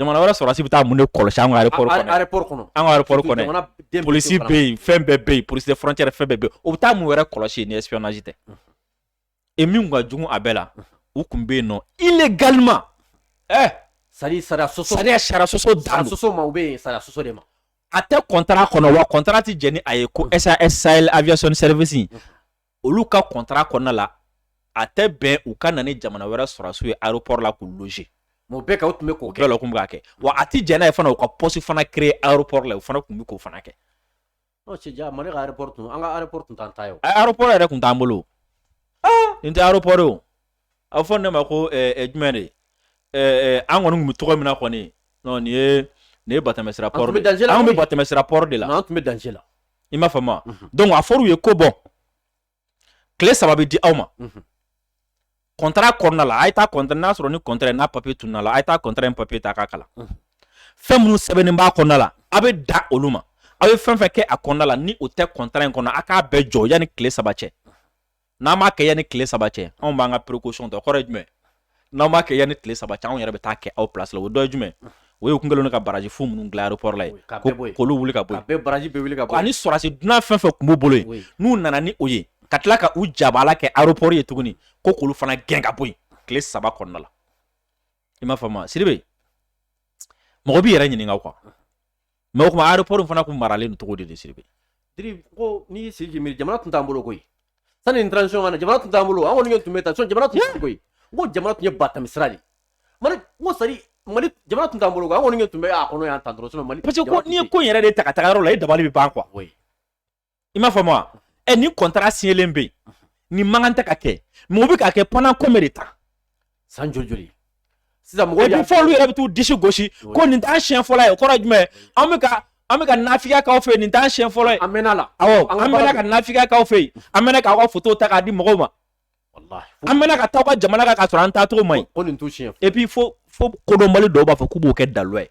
jamana wɛrɛ sɔrɔdasi bɛ taa mun de kɔlɔsi an ka kɔnɔ an ka kɔnɔ polisi bɛ yen fɛn bɛɛ bɛ yen polisi frontière fɛn bɛɛ bɛ yen o bɛ taa mun wɛrɛ kɔlɔsi ni espionnage tɛ e min ka jugu a bɛɛ la u tun bɛ yen nɔ illégalement ɛ sari sariya sɔsɔ sariya sariya sɔsɔ dan sɔsɔ ma u bɛ yen sariya sɔsɔ de ma a tɛ kɔntara kɔnɔ wa kɔntara tɛ jɛn ni a ye ko SAS Sahel Aviation Service olu ka kɔntara kɔnɔna la a tɛ bɛn u ka na ni jamana wɛrɛ sɔrɔdasiw ye aéroport la k'u loger o bɛɛ kɛ o tun bɛ k'o kɛ o tun bɛ k'a kɛ wa a tɛ jɛn n'a ye fana u ka poste fana créer aéroport la o fana tun bɛ k'o fana kɛ ɔ cɛ ja mali ka aéroport tun an ka aéroport tun t'an ta ye o aéroport yɛrɛ tun t'an bolo nin tɛ aéroport ye o a bɛ fɔ ne ma ko jumɛn de an kɔni bɛ tɔgɔ min na kɔni nin ye nin ye batɛmɛ sira port de ye, an tun bɛ danger la, an tun bɛ batɛmɛ sira port de la, non, an tun bɛ danger la, i m'a faamu wa, unhun, donc a fɔr'u ye ko bɔn tile saba bɛ di aw ma, unhun, contrat kɔnɔna la a ye taa contrat n'a sɔrɔ ni contrat ye n'a papier tununna la a ye taa contrat in papier ta k'a kalan, unhun, fɛn minnu sɛbɛnnen b'a kɔnɔna la a bɛ dan olu ma aw ye fɛn fɛn kɛ a kɔnɔna la ni o tɛ contrat in kɔnɔ a k'a bɛɛ jɔ yanni tile saba cɛ n'aw m'a kɛ yanni tile saba cɛ anw b'an ka précaution ta o kɔrɔ ye jumɛn n'aw m'a kɛ yanni tile saba cɛ anw yɛrɛ bɛ t'a kɛ aw place la o dɔ ye jumɛn o y'u kun kɛlen don ka barrage fu minnu dilan aéroport la ye k'olu wuli ka bɔ yen ani sɔrɔdasi dunan fɛn fɛn tun b'u bolo yen n'u nana ni o ye ka tila ka u jabaala kɛ aéroport ye tuguni ko k'olu fana gɛn ka bɔ yen tile saba kɔnɔna la i m'a faamu wa sidibe mɔgɔ b'i yɛrɛ ɲininka o kan mɛ o tuma aéroport in fana tun maralen don cogo di de sidibe diri ko n'i y'i sigi k'i miiri jamana tun t'an bolo koyi sani nin transition ka na jamana tun t'an bolo an kɔni tun bɛ taa sɔn jamana tun tɛ koyi n ko jamana tun ye batami sira de mali n ko sari mali jamana tun t'an bolo koyi an kɔni tun bɛ a kɔnɔ yan tan dɔrɔn mali parce que ko n'i ye ko in yɛrɛ de ta ka taga yɔrɔ la i dabali bɛ ban quoi i m'a faamu wa ɛ ni kɔntara siɲɛlen bɛ yen ni mankan tɛ ka kɛ mɛ o bɛ ka kɛ pendant combien de temps san joli joli sisan mɔgɔw y'a fɔ olu yɛrɛ bɛ t'u disi gosi ko nin t'an siɲɛ fɔlɔ ye o kɔrɔ ye jumɛn an bɛ ka an bɛ ka nafigiya k'aw fɛ nin t'an siɲɛ fɔlɔ ye an mɛnna a la awɔ an mɛnna ka nafigiya k'aw fɛ yen an mɛnna k'aw ka foto ta k'a di mɔgɔw ma an mɛnna ka taa aw ka jamana kan k'a sɔrɔ an taacogo man ɲi ko nin t'u siɲɛ et puis fo fo kodɔnbali dɔw b'a fɔ k'u b'o kɛ dalu ye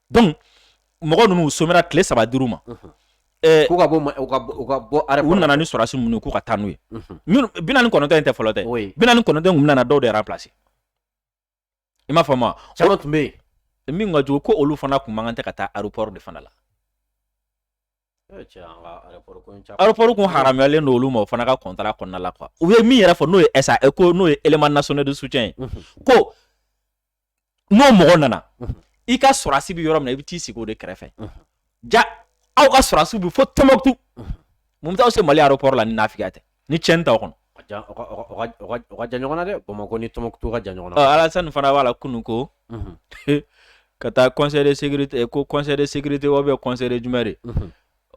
donc mɔgɔ ninnu u somɛra tile saba dir'u ma eh, k'u ka bɔ ma- u ka bɔ- u ka bɔ aéroport kɔnɔ. nana ni sɔrɔdasi minnu ye k'u ka taa n'u ye Mhm. minnu bi naani ni kɔnɔntɔn in tɛ fɔlɔ tɛ Oui. bi naani ni kɔnɔntɔn in tun nana dɔw de remplacer i m'a faamu wa caman tun bɛ yen min ka jugu ko olu fana kun man kan tɛ ka taa aéroport de fana la Aropɔri kun haramuyalen don olu ma o fana ka kɔntara kɔnɔna la a u ye min yɛrɛ fɔ n'o ye NSE ko n'o ye élément national de soutien ye ko n'o mɔgɔ nana i ka sɔrɔsi bɛ yɔrɔ min i bɛ t'i sigi o de kɛrɛfɛ ja aw ka sɔrɔsiw bɛ fo Tombouctou mun b'aw se mali aropɔri la ni nafigiya tɛ ni cɛn t'aw kɔnɔ jan ɲɔgɔn dɛ bamakɔ ni Tombouctou ka jan ɲɔgɔn alasani fana b'a la kunun ko ka taa conseil de sécurité ko conseil de sécurité o bɛ conseil de jumɛn de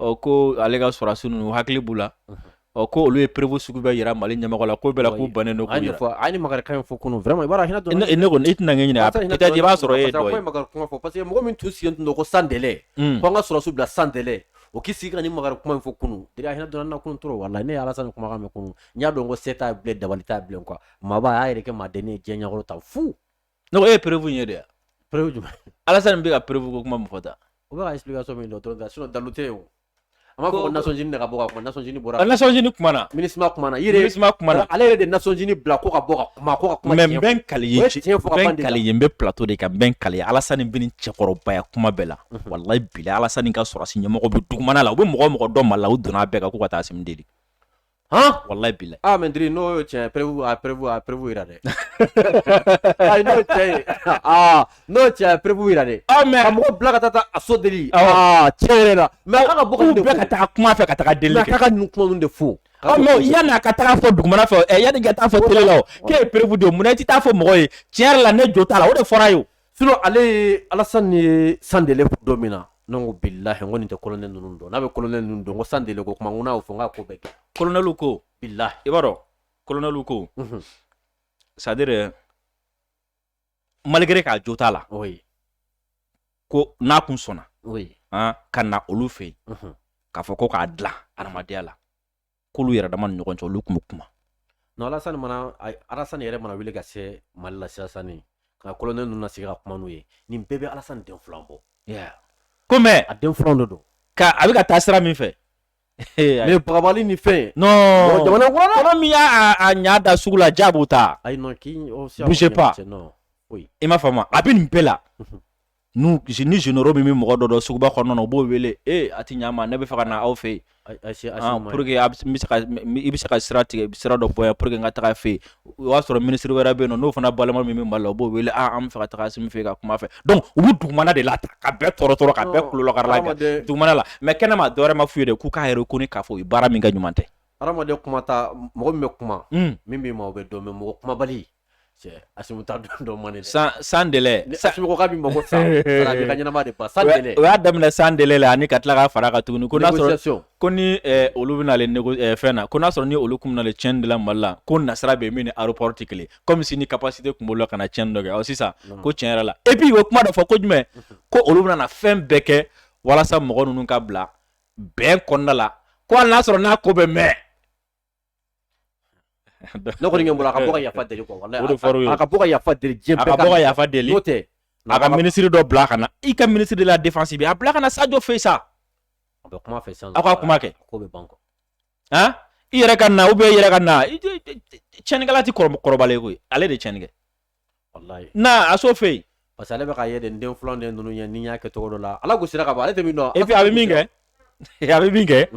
ɔ ko ale ka sɔrɔsiw ninnu hakili b'u la ɔ ko olu ye preuve sugu bɛɛ jira mali ɲɛmɔgɔ la ko bɛɛ la u bannen don a ni maka in fɔ kunun ne i tɛna ɲini a i b'a sɔrɔ e parce que mɔgɔ min tun sigilen tun ko sans délai ko an ka sɔrɔsiw bila sans o k'i sigi ka ni makari kuma in fɔ kunun i hinɛ donna na kun tora wala la ne ye alasani kumakan mɛn kunun n y'a dɔn ko se t'a bolo dabali t'a bolo kuwa maa y'a yɛrɛ kɛ maa den ye diɲɛ ɲɛkɔrɔ ta fu ne e ye preuve ye de preuve jumɛn alasani bɛ ka preuve ko kuma mɔgɔ ta o bɛ ka expliquer so min dɔrɔn ta sinon dalu tɛ yen o an b'a fɔ ko nasɔnjini de ka bɔ ka kuma nasɔnjini bɔra ka nasɔnjini kumana minisima kumana yiri minisima kumana ale yɛrɛ de nasɔnjini bila ko ka bɔ ka kuma ko ka kuma mɛ n bɛ n kali i ye n bɛ n kali i ye n bɛ plateau de kan n bɛ n kali i ye alasani binna cɛkɔrɔbaya kuma bɛɛ la walayi bilayi alasani ka sɔrɔsi ɲɛmɔgɔ bɛ dugumana la u bɛ mɔgɔ o mɔgɔ dɔn Mali la u donna bɛɛ kan k'u ka taa Asimi deli walayi bilayi ah, mɛ diri n'o cɛ preuve a preuve a preuve jira dɛ ayi n'o cɛ ye aa n'o cɛ a preuve jira dɛ aa mɛ a mɔgɔ bila ka taa taa Aso deli aa tiɲɛ yɛrɛ la mɛ a ka bɔ ka bɛɛ ka taa kuma fɛ ka taa deli kɛ k'a ka ninnu kuma ninnu de fo ɔ mɛ yanni a ka taa fɔ dugumana fɛ ɛ yanni ka taa fɔ tele la o k'e ye preuve de ye mun na i tɛ taa fɔ mɔgɔ ye tiɲɛ yɛrɛ la ne jo t'a la o de fɔra ye o Sinon ale ye alasani ye sans délai don min na n ko bilayi ko nin tɛ kolonɛli ninnu dɔn n'a bɛ kolonɛli ninnu dɔn ko sans délai ko tuma n'a fɔ n'a ko bɛ kɛ kolonɛli ko bilayi i b'a dɔn kolonɛli ko c'est-à-dire malgré k'a jo t'a la ko n'a kun sɔnna ka na olu fɛ yen k'a fɔ ko k'a dilan adamadenya la k'olu yɛrɛ dama ni ɲɔgɔn cɛ olu tun bɛ kuma non alasani mana alasani yɛrɛ mana wuli ka se mali la sirasani ka kolonɛli ninnu na sigi ka kuma n'u ye nin bɛɛ bɛ alasani den filan bɔ ko mɛ a den filan de don ka a bɛ ka taa sira min fɛ mɛ bagabali ni fɛn non jamana kɔnɔ min y'a a ɲa da sugu la ja b'u ta ayi non k'i bouge pas i m'a faamu a bɛ nin bɛɛ la n'u kisi ni généraux min bɛ mɔgɔ dɔ dɔn suguba kɔnɔna na u b'o wele ee a tɛ ɲɛ ma ne b'a fɛ ka na aw fɛ yen ah, pour que a bɛ se ka i bɛ se ka sira tigɛ sira dɔ bɔ yan pour que n ka taga fɛ yen o y'a sɔrɔ minisiri wɛrɛ bɛ yen nɔ n'o fana balima min bɛ Mali la o b'o wele aa ah, an b'a fɛ ka taga Asimi fɛ yen ka kuma fɛ donc u bɛ dugumana de la ka bɛɛ tɔɔrɔ tɔɔrɔ ka bɛɛ kulolɔkarila kɛ dugumana la mais kɛnɛma dɔwɛrɛ ma f'u ye dɛ k'u k'a yɛrɛ kɔni k'a fɔ u ye baara min kɛ ɲuman tɛ. hadamaden kumata mɔgɔ min bɛ kuma hmm. min b'i ma o bɛ dɔn mais mɔgɔ kumabali y'a daminɛ san ani ka tila ka fara a kan tuguni olu bɛ fɛn na ko n'a sɔrɔ ni olu tun nalen tiɲɛni de la mali la ko nasira bɛ min ni aéroport tɛ kelen comme si ni capacité tun b'olu la ka na tiɲɛni dɔ kɛ sisan ko tiɲɛ yɛrɛ la et puis o kuma dɔ fɔ ko jumɛn ko olu bɛna fɛn bɛɛ kɛ walasa mɔgɔ ninnu ka bila bɛn kɔnɔna la ko y'a sɔrɔ n'a ko bɛ mɛn ne kɔni ɲɛ bolo a ka bɔ ka yafa deli quoi wallahi o de fɔr'u ye a ka bɔ ka yafa deli diɲɛ bɛɛ ka a ka bɔ ka yafa deli n'o tɛ a ka minisiri dɔ bila ka na i ka minisiri de la défense bɛ a bila ka na Sadio fɛ sa a bɛ kuma fɛ sisan aw ka kuma kɛ ko bɛ ban quoi han i yɛrɛ ka na ou bien i yɛrɛ ka na tiɲɛnikɛla tɛ kɔrɔbalen koyi ale de tiɲɛni kɛ wallahi na a so fɛ yen parce que ale bɛ ka ye de n den filanw de ninnu ɲɛ ni n y'a kɛ cogo dɔ la ala gosira ka ban ale tɛ min dɔn et puis a bɛ min kɛ a bɛ min kɛ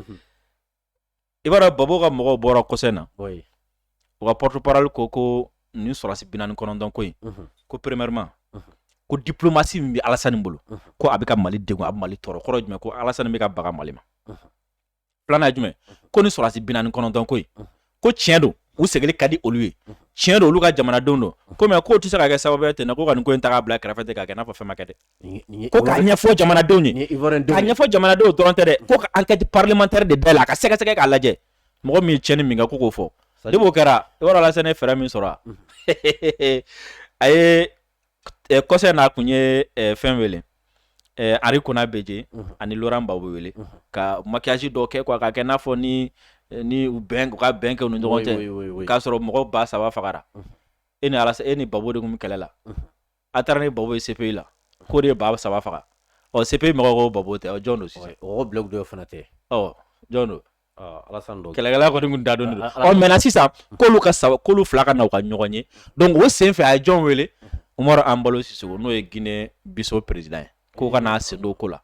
i b'a dɔn Gbagbo ka mɔgɔw bɔra kɔsa in na u ka porte-parole ko ko nin sɔrɔdasi binaani ni kɔnɔntɔn ko in ko premièrement ko diplomasi min bɛ Alasani bolo ko a bɛ ka mali de a mali tɔɔrɔ kɔrɔ jumɛn ko Alasani bɛ ka baga mali ma filanan jumɛn ko nin sɔrɔdasi binaani ni kɔnɔntɔn ko in ko tiɲɛ don u segin ka di olu ye tiɲɛ don olu ka jamanadenw don kɔmi k'o tɛ se ka kɛ sababu ten na ko ka nin ko in ta k'a bila kɛrɛfɛ k'a kɛ n'a fɔ fɛn ma kɛ dɛ Ko ka ɲɛfɔ jamanadenw ye ka ɲɛfɔ jamanadenw dɔrɔn tɛ dɛ ko enquête parlementaire de bɛɛ la a ka sɛgɛsɛgɛ k'a lajɛ mɔgɔ min cɛn ni min ko k'o fɔ b'o kɛra yɔrɔ la ne fɛɛrɛ min sɔrɔ a ye kɔsa in na tun ye fɛn wele Henri Konan Bédié ani Laurent Gbagbo wele ka maquillage dɔ kɛ ko k'a kɛ n'a fɔ ni ni u ka bɛn kɛ ni ɲɔgɔn cɛ k'a sɔrɔ mɔgɔ ba saba fagara e ni e ni Gbagbo de tun bɛ kɛlɛ la a taara ni Gbagbo ye CPI la k'o de ye ba saba faga ɔ CPI mɔgɔw ko Gbagbo tɛ ɔ jɔn don sisan o blague dɔ fana tɛ ɔ jɔn don kɛlɛkɛla kɔni kun da don don ɔ mɛna sisan k'olu ka saba k'olu fila ka na u ka ɲɔgɔn ye donc o sen fɛ a ye jɔn wele Umaru Anbalo Sisoko n'o ye Guinée Bissau président ye k'o ka n'a sen don ko la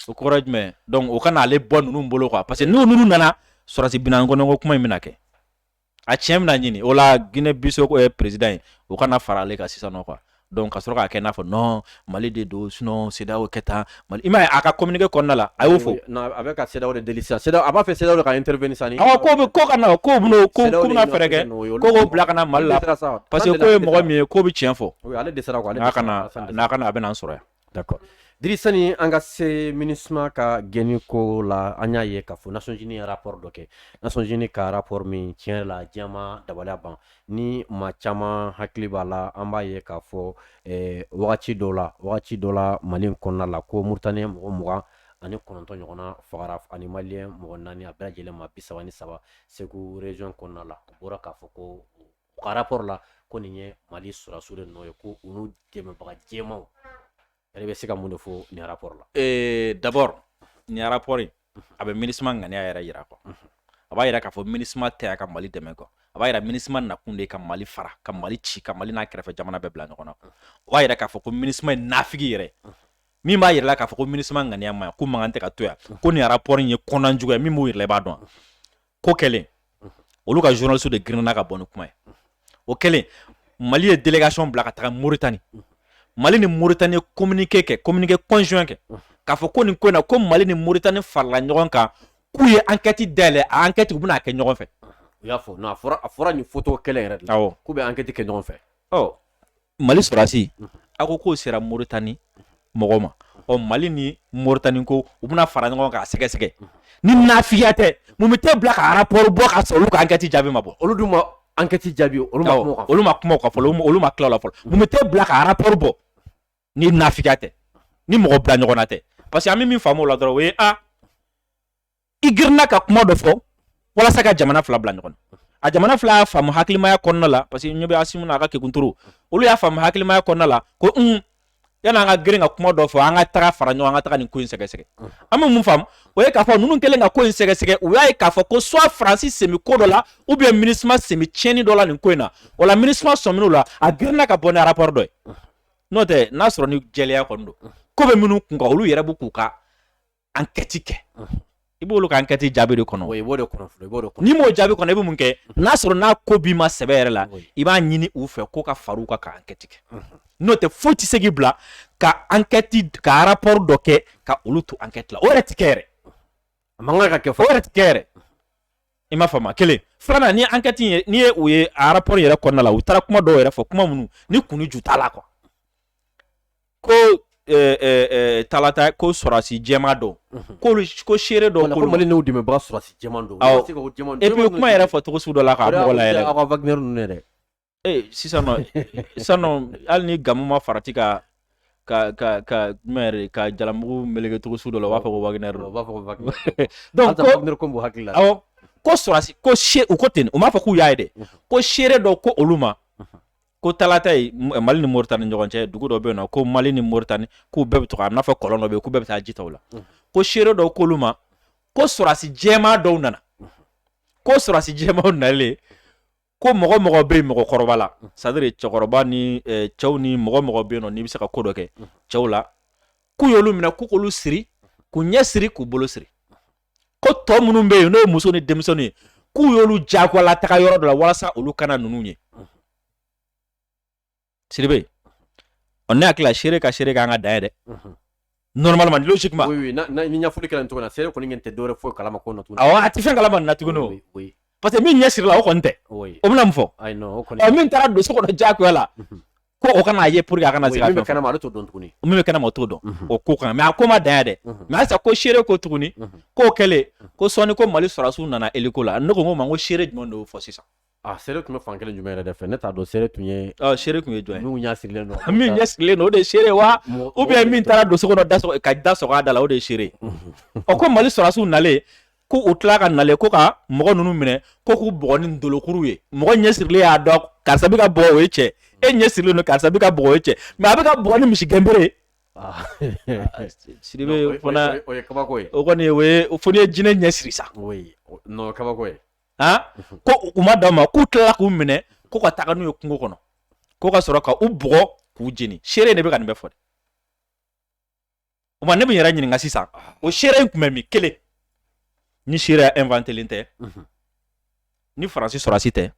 o kɔrɔ ye jumɛn donc o ka n'ale bɔ ninnu bolo quoi parce que ni ninnu nana sɔrɔdasi binaani kɔnɔntɔn ko kuma in bɛna kɛ a tiɲɛ bɛna ɲini o la Guinée Bissau ye président ye o ka na fara ale kan sisan nɔ quoi donc ka sɔrɔ k'a kɛ n'a fɔ non Mali de don sinon CEDEAO kɛ tan Mali i m'a ye a ka communiqué kɔnɔna la a y'o fɔ non a bɛ ka CEDEAO de deli sisan CEDEAO a b'a fɛ CEDEAO de ka intervenir sisan awɔ k'o bɛ ko ka na k'o bɛna ko k'u bɛna fɛɛrɛ kɛ ko k'o bila ka na Mali la parce que k'o ye mɔgɔ min ye k'o bɛ tiɲɛ fɔ oui ale dɛsɛra quoi n'a ka na n'a ka na a bɛna an sɔrɔ yan D'accord Drisa ni an ka se MINUSMA ka gɛnni ko la an y'a ye k'a fɔ Nations Unies ye rapport dɔ kɛ Nations Unies ka rapport min tiɲɛ la diɲɛmaa dabaliya ban ni maa caman hakili b'a la an b'a ye k'a fɔ wagati dɔ la wagati dɔ la mali kɔnɔna la ko Mauritanien mɔgɔ mugan ani kɔnɔntɔn ɲɔgɔnna fagara ani malien mɔgɔ naani a bɛɛ lajɛlen maa bisaba ni saba Segu région kɔnɔna la bɔra k'a fɔ ko ka rapport la ko nin ye mali sɔrɔsiw de nɔ ye ko olu dɛmɛbaga jɛmaw yɛrɛ bɛ se ka mun de fɔ nin rapport la ee d'abord nin rapport in a bɛ minisima ŋaniya yɛrɛ yira kɔ a b'a yira k'a fɔ minisima tɛ yan ka mali dɛmɛ kɔ a b'a yira minisima nakun de ka mali fara ka mali ci ka mali n'a kɛrɛfɛ jamana bɛɛ bila ɲɔgɔn na o b'a yira k'a fɔ ko minisima ye nafigi yɛrɛ min b'a yɛrɛ la k'a fɔ ko minisima ŋaniya ma ko mankan tɛ ka to yan ko nin rapport in ye kɔnɔnajuguya min b'o yɛrɛ b'a dɔn ko kɛlen olu ka journaliste de girinna ka bɔ ni kuma ye o kɛlen mali ye délégation bila ka taga moritani mali ni moritani ye communiqué kɛ communiqué conjoint kɛ k'a fɔ ko nin ko in na ko mali ni moritani farala ɲɔgɔn kan k'u ye enquête dayɛlɛ a enquête u bɛna a kɛ ɲɔgɔn fɛ u y'a fɔ non a fɔra a fɔra nin photo kelen yɛrɛ de la awɔ k'u bɛ enquête kɛ ɲɔgɔn fɛ ɔ mali sɔrɔsi a ko k'o sera moritani mɔgɔ ma ɔ mali ni moritani ko u bɛna fara ɲɔgɔn kan k'a sɛgɛsɛgɛ ni nafigiya tɛ mun bɛ t'e bila ka rapport bɔ ka sɔrɔ olu ka ankɛti jaabi ma bɔ olu dun ma ankɛti jaabi olu olu ma kuma k'a fɔ olu ma tila a la fɔlɔ mun bɛ t'e bila ka rapport bɔ ni nafigiya tɛ ni mɔgɔ bila ɲɔgɔn tɛ parce que an bɛ min faamu a la dɔrɔn o ye a i girinna ka kuma dɔ fɔ walasa ka jamana fila bila ɲɔgɔn na jamana fila y'a faamu hakilimaya kɔnɔna la parce que ɲɛ bɛ asimi n'a ka kekunturu olu y'a faamu hakilimaya kɔnɔna la ko un yani an ka girin ka kuma dɔ fɔ an ka taga fara ɲɔgɔn kan ka taga nin ko in sɛgɛsɛgɛ an bɛ min faamu o ye k'a fɔ ninnu kɛlen ka ko in sɛgɛsɛgɛ u y'a ye k'a fɔ ko soit faransi sen bɛ ko dɔ la ou bien minisma sen bɛ tiɲɛni dɔ la nin ko in na o la minisma sɔmin'u la a girinna ka bɔ ni rapport dɔ ye n'o tɛ n'a sɔrɔ ni jɛlenya kɔni don ko bɛ minnu kun kan olu yɛrɛ b'u k'u ka ankɛti kɛ i b'olu ka ankɛti jaabi de kɔnɔ n'i m'o jaabi kɔnɔ i bɛ mun kɛ n'a sɔrɔ n'a ko b'i ma sɛbɛ yɛrɛ la i b'a ɲini u fɛ ko ka far'u kan ka ankɛti kɛ n'o tɛ foyi tɛ se k'i bila ka ankɛti ka arapɔri dɔ kɛ ka olu to ankɛti la o yɛrɛ tɛ kɛ yɛrɛ a man kan ka fɔ yɛrɛ tɛ kɛ yɛrɛ i ma faamu kelen filanan ni ankɛti ye n'i ye o ye arapɔri yɛrɛ kɔnɔna la u taara kuma dɔw yɛrɛ fɔ kuma minnu ni kun ni ju t'a la quoi ko eh, eh, eh, talata ko sɔrɔsi jɛman don mhm. k'olu ko seere dɔw ko mali n'u dɛmɛbaga sɔrɔsi jɛman don awɔ et puis kuma yɛrɛ fɔ cogo sugu dɔ la k'a mɔgɔ la yɛrɛ aw ka wagner ninnu yɛrɛ Ee sisan san hali ni ga ma farati ka ka ka ka kamugu mkɛcogo sugu dɔ la u b'a fɔ wa b'a fɔ hakili la ko sɔrɔsi ko se u ko ten u b'a fɔ k'u y'a dɛ ko seere dɔ ko olu ma ko tata mali ni moritani ɲɔgɔn cɛ dugu dɔ bɛ yen na ko mali ni moritani k'u bɛɛ bɛ to a n'a fɔ kɔlɔn dɔ bɛ k'u bɛɛ bɛ taa ji ta la ko seere dɔ ko olu ma ko sɔrɔsi jɛman dɔw nana ko sɔrɔsi jɛman nalen ko mɔgɔ mɔgɔ bɛ yen mɔgɔkɔrɔba la c'est-à-dire cɛkɔrɔba ni cɛw ni mɔgɔ mɔgɔ bɛ yen nɔn n'i bɛ se ka ko dɔ kɛ cɛw la k'u y'olu minɛ ko k'olu siri k'u ɲɛ siri k'u bolo siri ko tɔ minnu bɛ yen n'o ye muso ni denmisɛnnin ye k'u y'olu jagoya lataga yɔrɔ dɔ la walasa olu kana ninnu ye sidibe ɔ ne hakili la seere ka seere ka kan ka dan yen dɛ normalement logiquement oui oui na na ni ɲɛfɔli kɛra nin cogo la seere kɔni ɲɛ tɛ dɔwɛrɛ foyi kalama ko na tuguni awɔ a tɛ fɛn kalama nin na tuguni o oui parce que min ɲɛ sirila o kɔni tɛ o bɛna mun fɔ ayi non o kɔni ɔ min taara don so kɔnɔ diyagoya la ko o kana a ye pour que a kana se ka fɛn min bɛ kɛnɛma ale t'o dɔn tuguni min bɛ kɛnɛma o t'o dɔn o ko kan mais a ko ma dan yen dɛ mais halisa ko seere ko tuguni k'o kɛlen kɔ sɔɔni ko mali sɔrɔdasiw nana eliko la ne ko n ko ma n ko seere jumɛn de y'o fɔ sisan A seere tun bɛ fan kelen jumɛn yɛrɛ de fɛ ne t'a dɔn se tun ye seere tun ye jɔn n'u ɲɛ sirilen don min ɲɛ sirilen don o de seere wa ou bien min taara don so kɔnɔ da ka da sɔgɔ a da la o de seere ɔ ko mali sɔrɔsiw nalen ko u tila ka nale ko ka mɔgɔ ninnu minɛ ko k'u bugɔ ni bolokuru ye mɔgɔ ɲɛ sirilen y'a dɔn karisa bɛ k'a bugɔ o ye cɛ e ɲɛ sirilen don karisa bɛ k'a bugɔ o ye cɛ mais a bɛ k'a bugɔ ni misigɛnbere Ah. Ah, siri fana o kɔni o ye jinɛ ɲɛ siri sa kabako ye ko u ma dan o ma k'u tilala k'u minɛ ko ka taga n'u ye kungo kɔnɔ ko ka sɔrɔ ka u bugɔ k'u jeni seere de bɛ ka nin bɛɛ fɔ dɛ o tuma ne bɛ n yɛrɛ ɲininka sisan o seere in tun bɛ min kelen ni seere inventelen tɛ ni faransi sɔrɔsi tɛ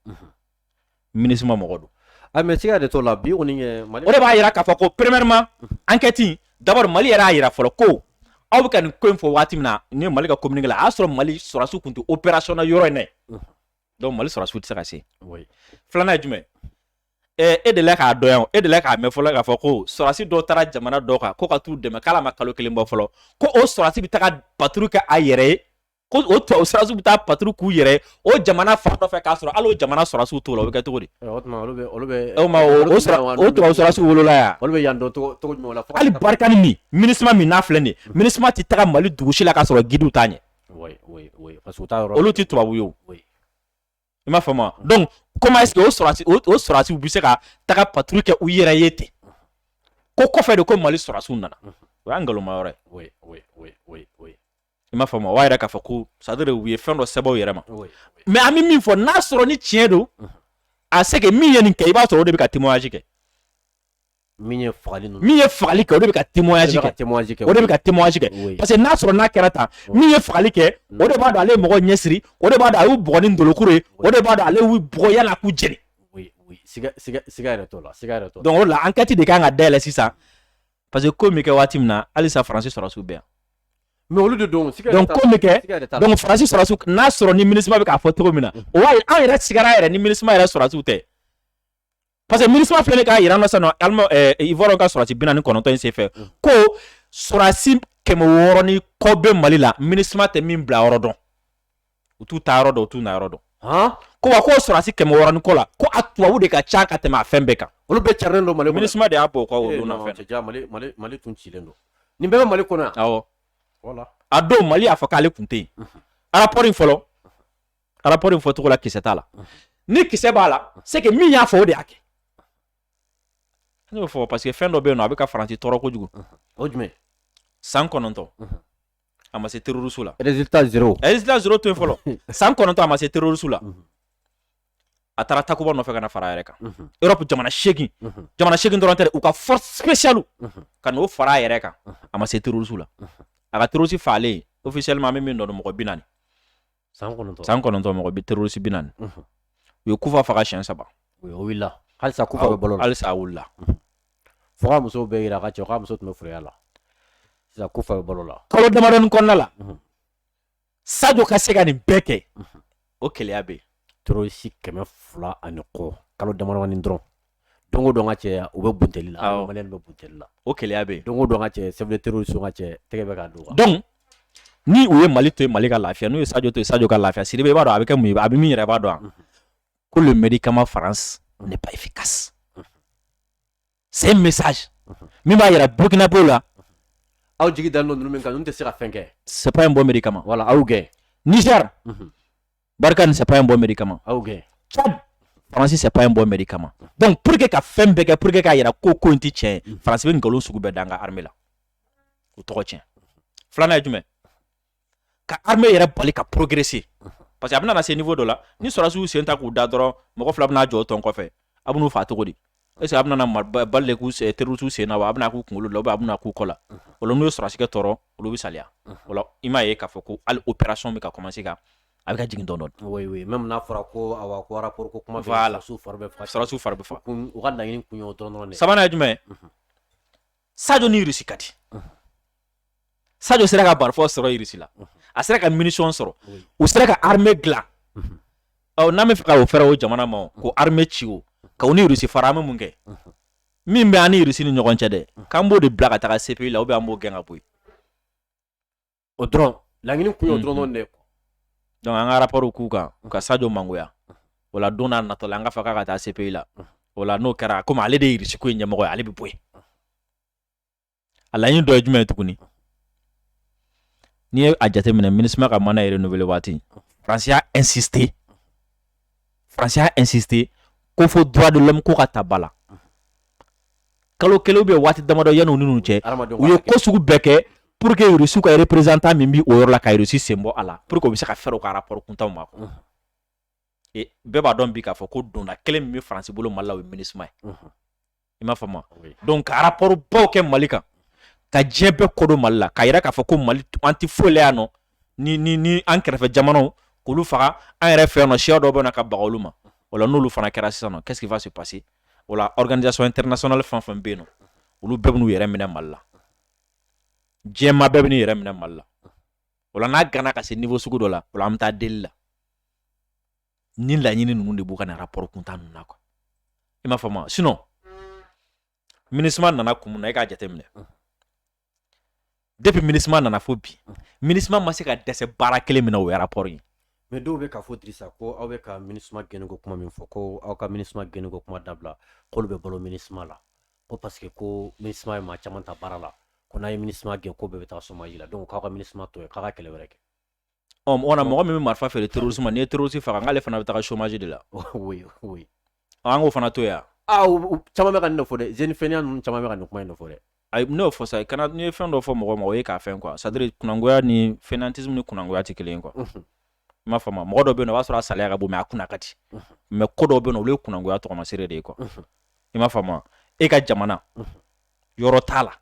minusma mɔgɔ don a mais siga de t'o la bi kɔni kɛ mali o de b'a jira k'a fɔ ko premièrement enquête d'abord mali yɛrɛ y'a jira fɔlɔ ko aw bɛ ka nin ko in fɔ waati min na ni mali ka communiqué la a y'a sɔrɔ mali sɔrɔdasiw tun tɛ opération na yɔrɔ in na donc mali sɔrɔdasiw tɛ se ka se filanan ye jumɛn e delila k'a dɔn yan e delila k'a mɛn fɔlɔ k'a fɔ ko sɔrɔdasi dɔ taara jamana dɔ kan ko ka t'u dɛmɛ k'ale ma kalo kelen bɔ fɔlɔ ko o sɔrɔdasi bɛ taga patrouille kɛ a yɛrɛ ye ko o tubabu sɔrɔsiw bɛ taa patrouille k'u yɛrɛ ye o jamana fan dɔ fɛ k'a sɔrɔ hali o jamana sɔrɔsiw t'o la o bɛ kɛ cogo di Ɛ, o tuma olu bɛ olu bɛ o ma o o sira o tubabu sɔrɔsiw wolola yan olu bɛ yan dɔn cogo cogo jumɛn la fo ka hali barikani min minusma min n'a filɛ nin ye minusma tɛ taga mali dugu si la k'a sɔrɔ gidiw t'a ɲɛ Oui, oui, oui, parce que u t'a yɔrɔ olu tɛ tubabu ye o oui. i m'a faamu donc comment est-ce que o sɔrɔsi o sɔrɔsiw bɛ se ka taga patrouille kɛ u yɛrɛ ye ten ko kɔfɛ de ko mali sɔrɔsiw nana o y'a nkalonma yɔrɔ ye i m'a faamu o b'a yira k'a fɔ ko c'est-à-dire u ye fɛn dɔ sɛbɛn u yɛrɛ ma mais an bɛ min fɔ n'a sɔrɔ ni tiɲɛ don a se min ye nin kɛ i b'a sɔrɔ o de bɛ ka témoignage kɛ min ye fagali min ye fagali kɛ o de bɛ ka témoignage kɛ o de bɛ ka témoignage kɛ parce que n'a sɔrɔ n'a kɛra tan min ye fagali kɛ o de b'a dɔn ale ye mɔgɔ ɲɛsiri o de b'a dɔn a y'u bugɔ ni bolokuru ye o de b'a dɔn ale y'u bugɔ yala k'u jeni siga siga siga yɛrɛ t'o la siga yɛrɛ t'o la donc o de la enquête de kan ka dayɛlɛ sisan parce que ko bɛ kɛ waati min na halisa faransi sɔrɔsiw bɛ yan mais olu de don siga donc ko bɛ kɛ donc faransi sɔrɔsiw n'a sɔrɔ ni minisma bɛ k'a fɔ cogo min na o y'a ye an yɛrɛ sigara yɛrɛ ni minisma yɛrɛ sɔrɔsiw tɛ parce que minisma filɛ k'a jira an na sisan nɔ alima ɛɛ eh, ivoire ka sɔrɔsi bi naani kɔnɔntɔn in senfɛ mm. ko sɔrɔsi kɛmɛ wɔɔrɔ ni kɔ bɛ mali la minisma tɛ min bila yɔrɔ dɔn u t'u ta yɔrɔ dɔn u t'u na yɔrɔ dɔn ko wa k'o sɔrɔsi kɛmɛ wɔɔrɔ ni kɔ la ko a tubabu de ka ca ka tɛmɛ a fɛn bɛɛ kan olu bɛɛ carilen don mali minisma de y'a bɔ o kɔ o don na fɛn mali mali mali tun cilen don nin bɛɛ bɛ mali kɔnɔ yan awɔ a don mali y'a fɔ k'ale tun tɛ yen rapport in fɔlɔ rapport in fɔcogo la kisɛ t'a la ni kisɛ b'a la c'est que min y'a fɔ o de y'a kɛ ne b'a fɔ parce que fɛn dɔ bɛ yen n'a bɛ ka faransi tɔɔrɔ kojugu o jumɛn san kɔnɔntɔn a ma se terroriste la résultat zéro résultat zéro to yen fɔlɔ san kɔnɔntɔn a ma se terroriste la a taara takuba nɔfɛ ka na fara a yɛrɛ kan europe jamana seegin jamana seegin dɔrɔn tɛ u ka force spéciale ka n'o fara a yɛrɛ kan a ma se terroriste la a ka terroriste fagalen officiellement an bɛ min dɔn mɔgɔ bi naani san kɔnɔntɔn mɔgɔ bi terroriste bi naani u ye kufa faga siyɛn saba halisa ku balo halisa wili fo k'a muso bɛɛ jira a ka cɛ k'a muso tun bɛ firiya la sisan kufa bɛ balo la kalo damadɔnin kɔnɔna la sajo ka se ka nin bɛɛ kɛ o keleya bɛ yen terroriste kɛmɛ fila ani kɔ kalo damadɔnin dɔrɔn don dɔn ka cɛ u bɛ butli la bɛ butli la o keleya bɛ don dɔn ka cɛ sɛ teri so ka cɛ tɛgɛ bɛ ka don dɔn ni u ye mali to mali ka lafiya n'u ye sajo to sajo ka lafiya siri b'a dɔn a bɛ kɛ mun a bɛ min yɛrɛ b'a dɔn ko mri kama fara ne ba ifi kasi se misa min b'a jira burukina b'o la aw jigi da don min kan n tɛ se ka fɛn kɛ sep in bɔ mi kama wala wagner barkhane sɛpa in bɔ mɛri kama faransi sɛpa in bɔ mɛri kama donc pour que ka fɛn bɛɛ kɛ pour que k'a yira ko ko in tɛ tiɲɛ mm. faransi bɛ nkalon sugu bɛɛ da an ka armée la o tɔgɔ tiɲɛ filanan ye jumɛn ka armée yɛrɛ bali ka progresser parce que a bɛna na se niveau dɔ la ni sɔrɔsiw sen ta k'u da dɔrɔn mɔgɔ fila bɛna jɔ tɔn kɔfɛ a b'u fa cogo di Est ce que a bɛna na balle de kɛ terroriste sen na wa a bɛna k'u kunkolo de la ou bien a bɛna k'u kɔ la unhun o la n'u ye sɔrɔdasi kɛ tɔɔrɔ olu bɛ saliya unhun o la i m'a ye k'a fɔ ko hali opération bɛ ka commencer ka a bɛ ka jigin dɔɔnin dɔɔnin oui oui même n'a fɔra ko awa ko rapport ko kuma bɛ voilà sɔrɔdasiw fari bɛ faga sɔrɔdasiw fari bɛ faga kun u ka laɲini kun ye o dɔrɔn dɔrɔn de ye sabanan ye jumɛn ye unhun Sadio ni Russie ka di unhun sajo sera ka marifa sɔrɔ irisi la a sera ka munition sɔrɔ u sera ka armée dilan ɔ n'a bɛ fɛ ka o fɛrɛ o jamana ma ko armée ci o ka ni irisi fara bɛ mun kɛ min bɛ an ni irisi ni ɲɔgɔn cɛ dɛ k'an b'o de bila ka taa se la u bɛ an b'o gɛn ka bɔ yen o dɔrɔn laɲini kun ye dɔrɔn dɛ donc an ka rapport k'u kan u ka sajo mangoya o la don n'a natɔ la an ka fa k'a ka taa se la o la n'o kɛra komi ale de ye irisiko ye ɲɛmɔgɔ ye ale bɛ bɔ yen a laɲini dɔ ye jumɛn ye tuguni n'i ye a jateminɛ minisima ka mandat ye renouvelé waati faransi y'a insister faransi y'a insister ko fo droit de l'homme ko ka ta ba la kalo kelen ou bien waati damadɔ yanni u ni ninnu cɛ u ye ko sugu bɛɛ kɛ pour que rusiw ka représentant min bi o yɔrɔ la ka rusi sen bɔ a la pour que u bɛ se ka fɛrɛ u ka rapport kuntanw ma bɛɛ b'a dɔn bi k'a fɔ ko donda kelen min bɛ faransi bolo mali la o ye minisuma ye i m'a faamu donc ka rapport baw kɛ mali kan ka diɲɛ bɛɛ kɔ don mali la k'a yira k'a fɔ ko mali an tɛ foyi la yan nɔ ni ni ni an kɛrɛfɛ jamanaw k'olu faga an yɛrɛ fɛ yan nɔ siya dɔw bɛ na ka baga olu ma o la n'olu fana kɛra sisan nɔ qu'est-ce qui va se passer o la organisation internationale fɛn fɛn bɛ yen nɔ olu bɛɛ bɛ n'u yɛrɛ minɛ mali la diɲɛmaa bɛɛ bɛ n'u yɛrɛ minɛ mali la o la n'a ganna ka se niveau sugu dɔ la o la an bɛ taa deli la ni laɲini ninnu de b'u ka nin rapport kuntan ninnu na quoi i m'a faamu sinon minisima nana kun mun na e k'a jateminɛ depuis minisima nana fo bi minisima ma se ka dɛsɛ baara kelen min na o ye rapport ye mɛ dɔw bɛ k'a fɔ dirisa ko aw bɛ ka minisima gɛnni ko kuma min fɔ ko aw ka minisima gɛnni ko kuma dabila k'olu bɛ balo minisima la ko parce que ko minisma ye maa caman ta baara la ko n'a ye minisma gɛn ko bɛɛ bɛ taa chômage la donc k'aw ka minisma to yen k'a ka kɛlɛ wɛrɛ kɛ ɔ o na mɔgɔ min bɛ marifa feere terrorisme ma n'i ye terroriste faga k'ale fana bɛ taga chômage de la oui oui ɔ, an k'o fana to yan ah u- u- caman bɛ ka nin de fɔ dɛ jeunes fainéants ninnu caman bɛ ka nin kuma in de fɔ dɛ ayi n'o fɔ sa kana n'i ye fɛn dɔ fɔ mɔgɔ ma o ye k'a fɛn quoi c'est à dire kunangoya ni fainéantisme ni kunangoya tɛ kelen ye quoi Mhm. i m'a faamu mɔgɔ dɔ bɛ yen nɔ o b'a sɔrɔ a salaya ka bon mɛ a kunna ka di mɛ ko dɔw bɛ yen nɔ olu ye kunangoya tɔgɔmasere de ye quoi i m'a faamu e ka jamana yɔrɔ t'a la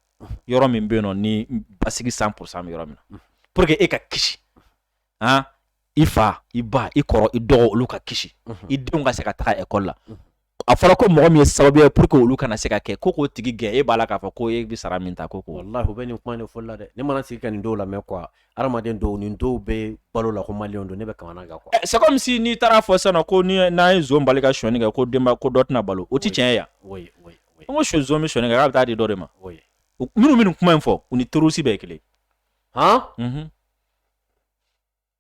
yɔrɔ min bɛ yen nɔ ni basigi cent pour cent bɛ yɔrɔ min na pour que e ka kisi han i fa i ba i kɔrɔ i dɔgɔ olu ka kisi i denw ka se ka taga ekɔli la a fɔra ko mɔgɔ min ye sababu ye pour que olu kana se ka kɛ ko k'o tigi gɛn e b'a la k'a fɔ ko e bɛ sara min ta ko ko wallahi u bɛ nin kuma in de fɔli la dɛ ne mana sigi ka nin dɔw lamɛn quoi hadamaden dɔw nin dɔw bɛ balo la ko maliyɛnw don ne bɛ kamana gan quoi eh, c'est comme si n'i taara a fɔ sisan ko ni n'an ye zon bali ka sonyɛni kɛ ko denba ko dɔ tɛna balo o ti tiɲɛ ye yan oui oui oui n ko sɔ zon bɛ sonyɛni kɛ k'a bɛ taa di dɔ de ma oui minnu bɛ nin kuma in fɔ u ni terroriste bɛɛ ye kelen han mhm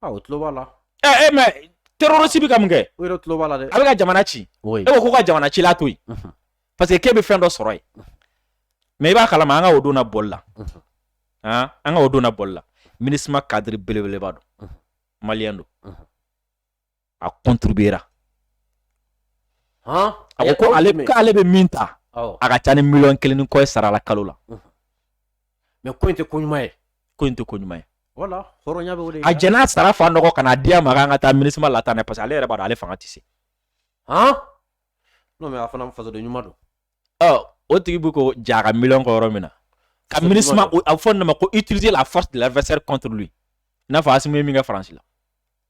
A o tulo b'a la ɛ e mɛ terroriste bɛ ka min kɛ o yɛrɛ tulo b'a la dɛ a bɛ ka jamana ci e ko ko ka jamana cila to yen parce que k'e bɛ fɛn dɔ sɔrɔ yen mɛ i b'a kalama an ka o donna bɔli la an ka o donna bɔli la minisma kadiri belebeleba don maliyɛn don a kɔnturbera a ko ale k'ale bɛ min ta a ka ca ni miliyɔn kelen ni kɔ sara la kalo la mɛ ko in tɛ ko ɲuman ye ko in tɛ ko ɲuman ye a jɛnɛ sara fa nɔgɔ kana di ma an ka taa minisima la tan ne parce que ale yɛrɛ b'a ale fanga tɛ se n'o a fana faso ɲuman don o tigi bɛ ko ja ka mi kɔ yɔrɔ min na ka mini a fɔ nana ma ko i tiriz la a fa l'adversaire contre n'a fɔ a min min kɛ faransi la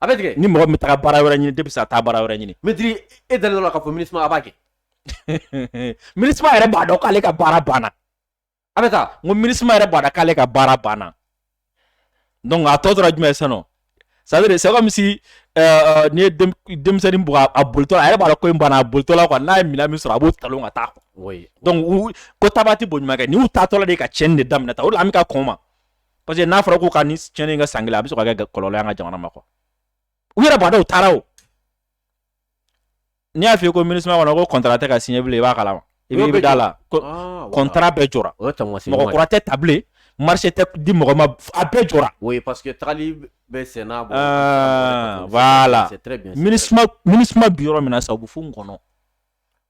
a bɛ tigɛ ni mɔgɔ min taga baara wɛrɛ ɲini de bɛ se ka taa baara wɛrɛ ɲini mɛtiri e dalen la k'a fɔ minisima a b'a kɛ minisima yɛrɛ b'a dɔn k'ale ka baara banna a bɛ taa n ko minisima yɛrɛ b'a dɔn k'ale ka baara banna donc a tɔ tora jumɛn ye sisan c'est à dire c'est comme si euh, n'i ye denmisɛnnin bugɔ a bolitɔ la a yɛrɛ b'a dɔn ko in banna a bolitɔ la quoi n'a ye minɛn min sɔrɔ a b'o talon ka taa quoi donc ko taabaa tɛ bo ɲuman kɛ nin y'u taatɔla de ye ka tiɲɛni de daminɛ tan o de la an bɛ ka kɔn o ma parce que n'a fɔra ko ka ni tiɲɛni ka san kelen a bɛ sɔn ka kɛ kɔlɔlɔ y'an ka jamana ma quoi u yɛrɛ b'a dɔn u taara o n'i y'a f'i ye ko minisima kɔnɔ ko kɔntara tɛ ka siɲɛ bilen i b'a kalama i bɛ da la kɔntara ah, bɛɛ jɔra mɔgɔ kura tɛ ta bilen marché tɛ di mɔgɔ ma a bɛɛ jɔra oui parce que tagali bɛ sen na bon ah, voilà minisima minisima bi yɔrɔ min na sa u bɛ fo n kɔnɔ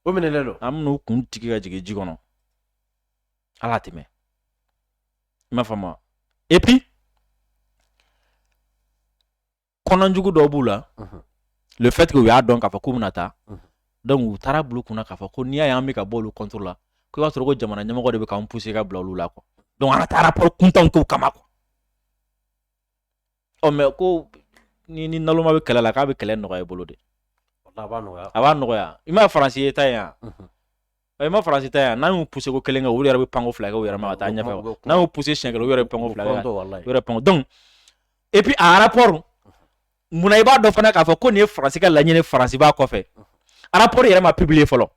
o minɛlen don an bɛn'u kun digi ka jigin ji kɔnɔ ala tɛmɛ i m'a faamu et puis kɔnɔjugu dɔ b'u la le fait que u y'a dɔn k'a fɔ k'u bɛna taa donc u taar'a bila u kunna k'a fɔ ko n'i y'a ye an bɛ ka bɔ olu contre la ko i b'a sɔrɔ ko jamana ɲɛmɔgɔ de bɛ k'an pousser ka bila olu la quoi donc an ka taa rapport kuntanw k'u kama quoi ɔ mɛ ko n'i ni naloma bɛ kɛlɛ la k'a bɛ kɛlɛ nɔgɔya i bolo de a b'a nɔgɔya a b'a nɔgɔya i ma faransi ye ta ye yan mhm. i ma faransi ta yan n'an y'u poussé ko kelen kɛ u yɛrɛ bɛ panko fila kɛ u yɛrɛ ma ka taa ɲɛfɛ n'an y'u poussé siɲɛ kelen u yɛrɛ bɛ panko fila kɛ u yɛrɛ panko donc et puis a rapport munna i b'a dɔn fana k'a fɔ ko nin ye faransi ka laɲini faransi b'a kɔfɛ mhm. rapport yɛrɛ ma publier fɔlɔ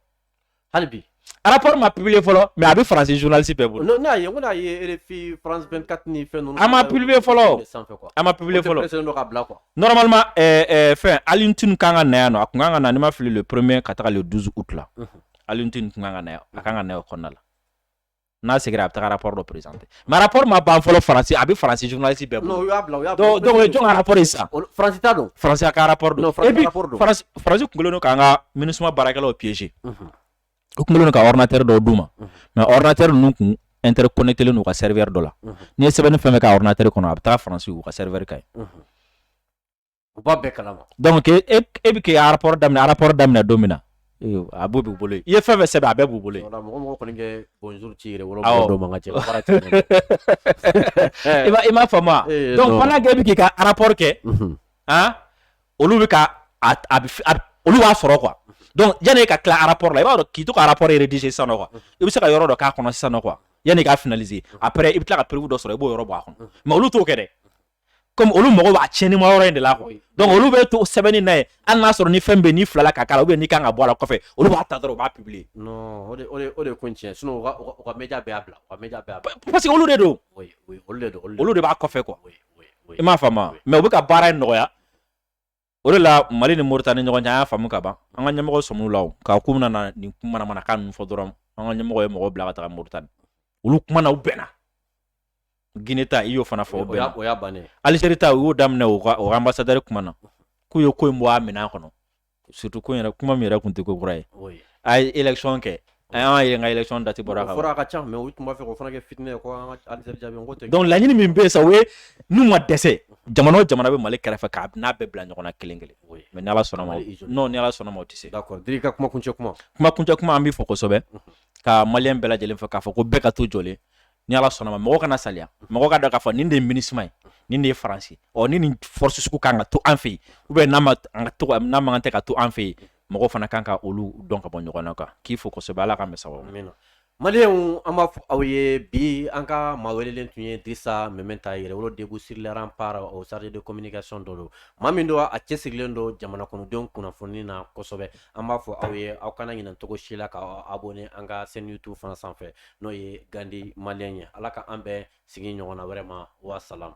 hali bi rapport ma publier fɔlɔ mais a bɛ faransi journaliste bɛɛ bolo. n'a ye n ko n'a ye RFI France 24 ni fɛn ninnu. a ma publier fɔlɔ a ma publier fɔlɔ. o tɛ presser dɔ ka bila quoi. normalement ɛɛ ɛɛ fɛn Alioune Tine kan ka na yan nɔ a tun kan ka na ni n ma fili le premier ka taga le 12 août la Alioune Tine tun kan ka na yan a kan ka na yan o kɔnɔna la. n'a seginna a bɛ taga rapport dɔ présenter mais rapport ma ban fɔlɔ faransi a bɛ faransi journaliste bɛɛ bolo donc donc o ye jɔn ka rapport ye sisan faransi ta don faransi ka rapport don et puis faransi faransi kun kɔnnen don k'an ka minusima baarakɛlaw piéger mhm. u kun kɔnnen don ka ordinateur dɔw d'u ma mhm. mais ordinateur ninnu kun interconnecté len don u ka serveur dɔ la mhm. n'i ye sɛbɛnni fɛn fɛn k'a ordinateur kɔnɔ a bɛ taga faransi u ka serveur kan yen. U b'a bɛɛ kalan donc e bɛ kɛ rapport daminɛ rapport daminɛ don min na a b'o b'u bolo i ye fɛn sɛbɛn a bɛɛ b'u bolo ci i m'a fa donc e bɛ k'i ka rapport kɛ olu bɛ olu b'a sɔrɔ k'o dɔn yanani ka tila rapport la i b'a dɔn k'i to rapport yɛrɛ dise sans quoi i bɛ se ka yɔrɔ dɔn k'a kɔnɔ sans quoi yanani k'a effacer a i bɛ tila ka preuve dɔ sɔrɔ i b'o yɔrɔ bɔ a kɔnɔ mais olu t'o kɛ dɛ kɔmi olu mago b'a tiɲɛnima yɔrɔ in de la koyi donc olu bɛ to sɛbɛnni na yen hali n'a sɔrɔ ni fɛn bɛ n'i filila k'a k'a la ou bien nin kan ka bɔ a la kɔfɛ olu b'a ta dɔrɔn u b'a publier non o de o de o de ko in tiɲɛ sinon u ka u ka media bɛɛ y'a bila u ka media bɛɛ y'a bila parce que olu de don oui oui olu de don olu de b'a kɔfɛ quoi i m'a faamu mais u bɛ ka baara in nɔgɔya o de la mali ni moritani ɲɔgɔn cɛ y'a faamu ka ban an ka ɲɛmɔgɔ sɔmila k'u nana nin kumakan ninnu fɔ dɔrɔn an ka ɲɛmɔgɔ ye mɔgɔ bila ka taa moritani olu kumana u bɛnna gine ta i y'o fana fɔ bɛn alizeri ta u y'o daminɛ u ka o ambassadeur kumana k'u ye ko in bɔ a minɛn kɔnɔ surtout ko yɛrɛ kuma min yɛrɛ tun tɛ ko kura ye a ye ecɔn kɛ An yɛrɛ ka élection date bɔra a fɔra a ka ca mais u tun b'a fɛ o fana kɛ vite donc laɲini min bɛ sa u ye n'u ma dɛsɛ jamana o jamana bɛ mali kɛrɛfɛ k'an n'a bɛɛ bila ɲɔgɔn na kelen kelen mais n'ala sɔnna ma ala sɔnna ma tɛ se ka kumakuncɛ kuma kumakun kuma an b'i fo kosɛbɛ ka maliyɛn bɛɛ lajɛlen fo k'a fɔ ko bɛɛ ka to jɔlen ni ala sɔnna ma mɔgɔ kana salaya mɔgɔ kana k'a fɔ nin de ye minusima ye nin de ye faransi ɔ ni ni force sugu ka kan ka to an fɛ yen u bɛ n'a ma an ka to n'a man tɛ ka to an fɛ yen mɔgɔ fana kan ka olu dɔn ka bɔ ɲɔgɔn na k'an k'i fo kosɛbɛ ala ka an bɛɛ sababu ɲɛ maliyɛnw an b'a fɔ aw ye bi an ka maa welelen tun ye dirisa mɛmɛnta yɛrɛwolo debout sur les remparts o chargé de communication dɔ don maa min don a cɛsirilen don jamana kɔnɔdenw kunnafoni na kosɛbɛ an b'a fɔ aw ye aw kana ɲinɛ cogo si la ka aw abonner an ka chaîne youtube fana sanfɛ n'o ye gandi maliyɛn ye ala ka an bɛn sigi ɲɔgɔnna wɛrɛ ma wasalamu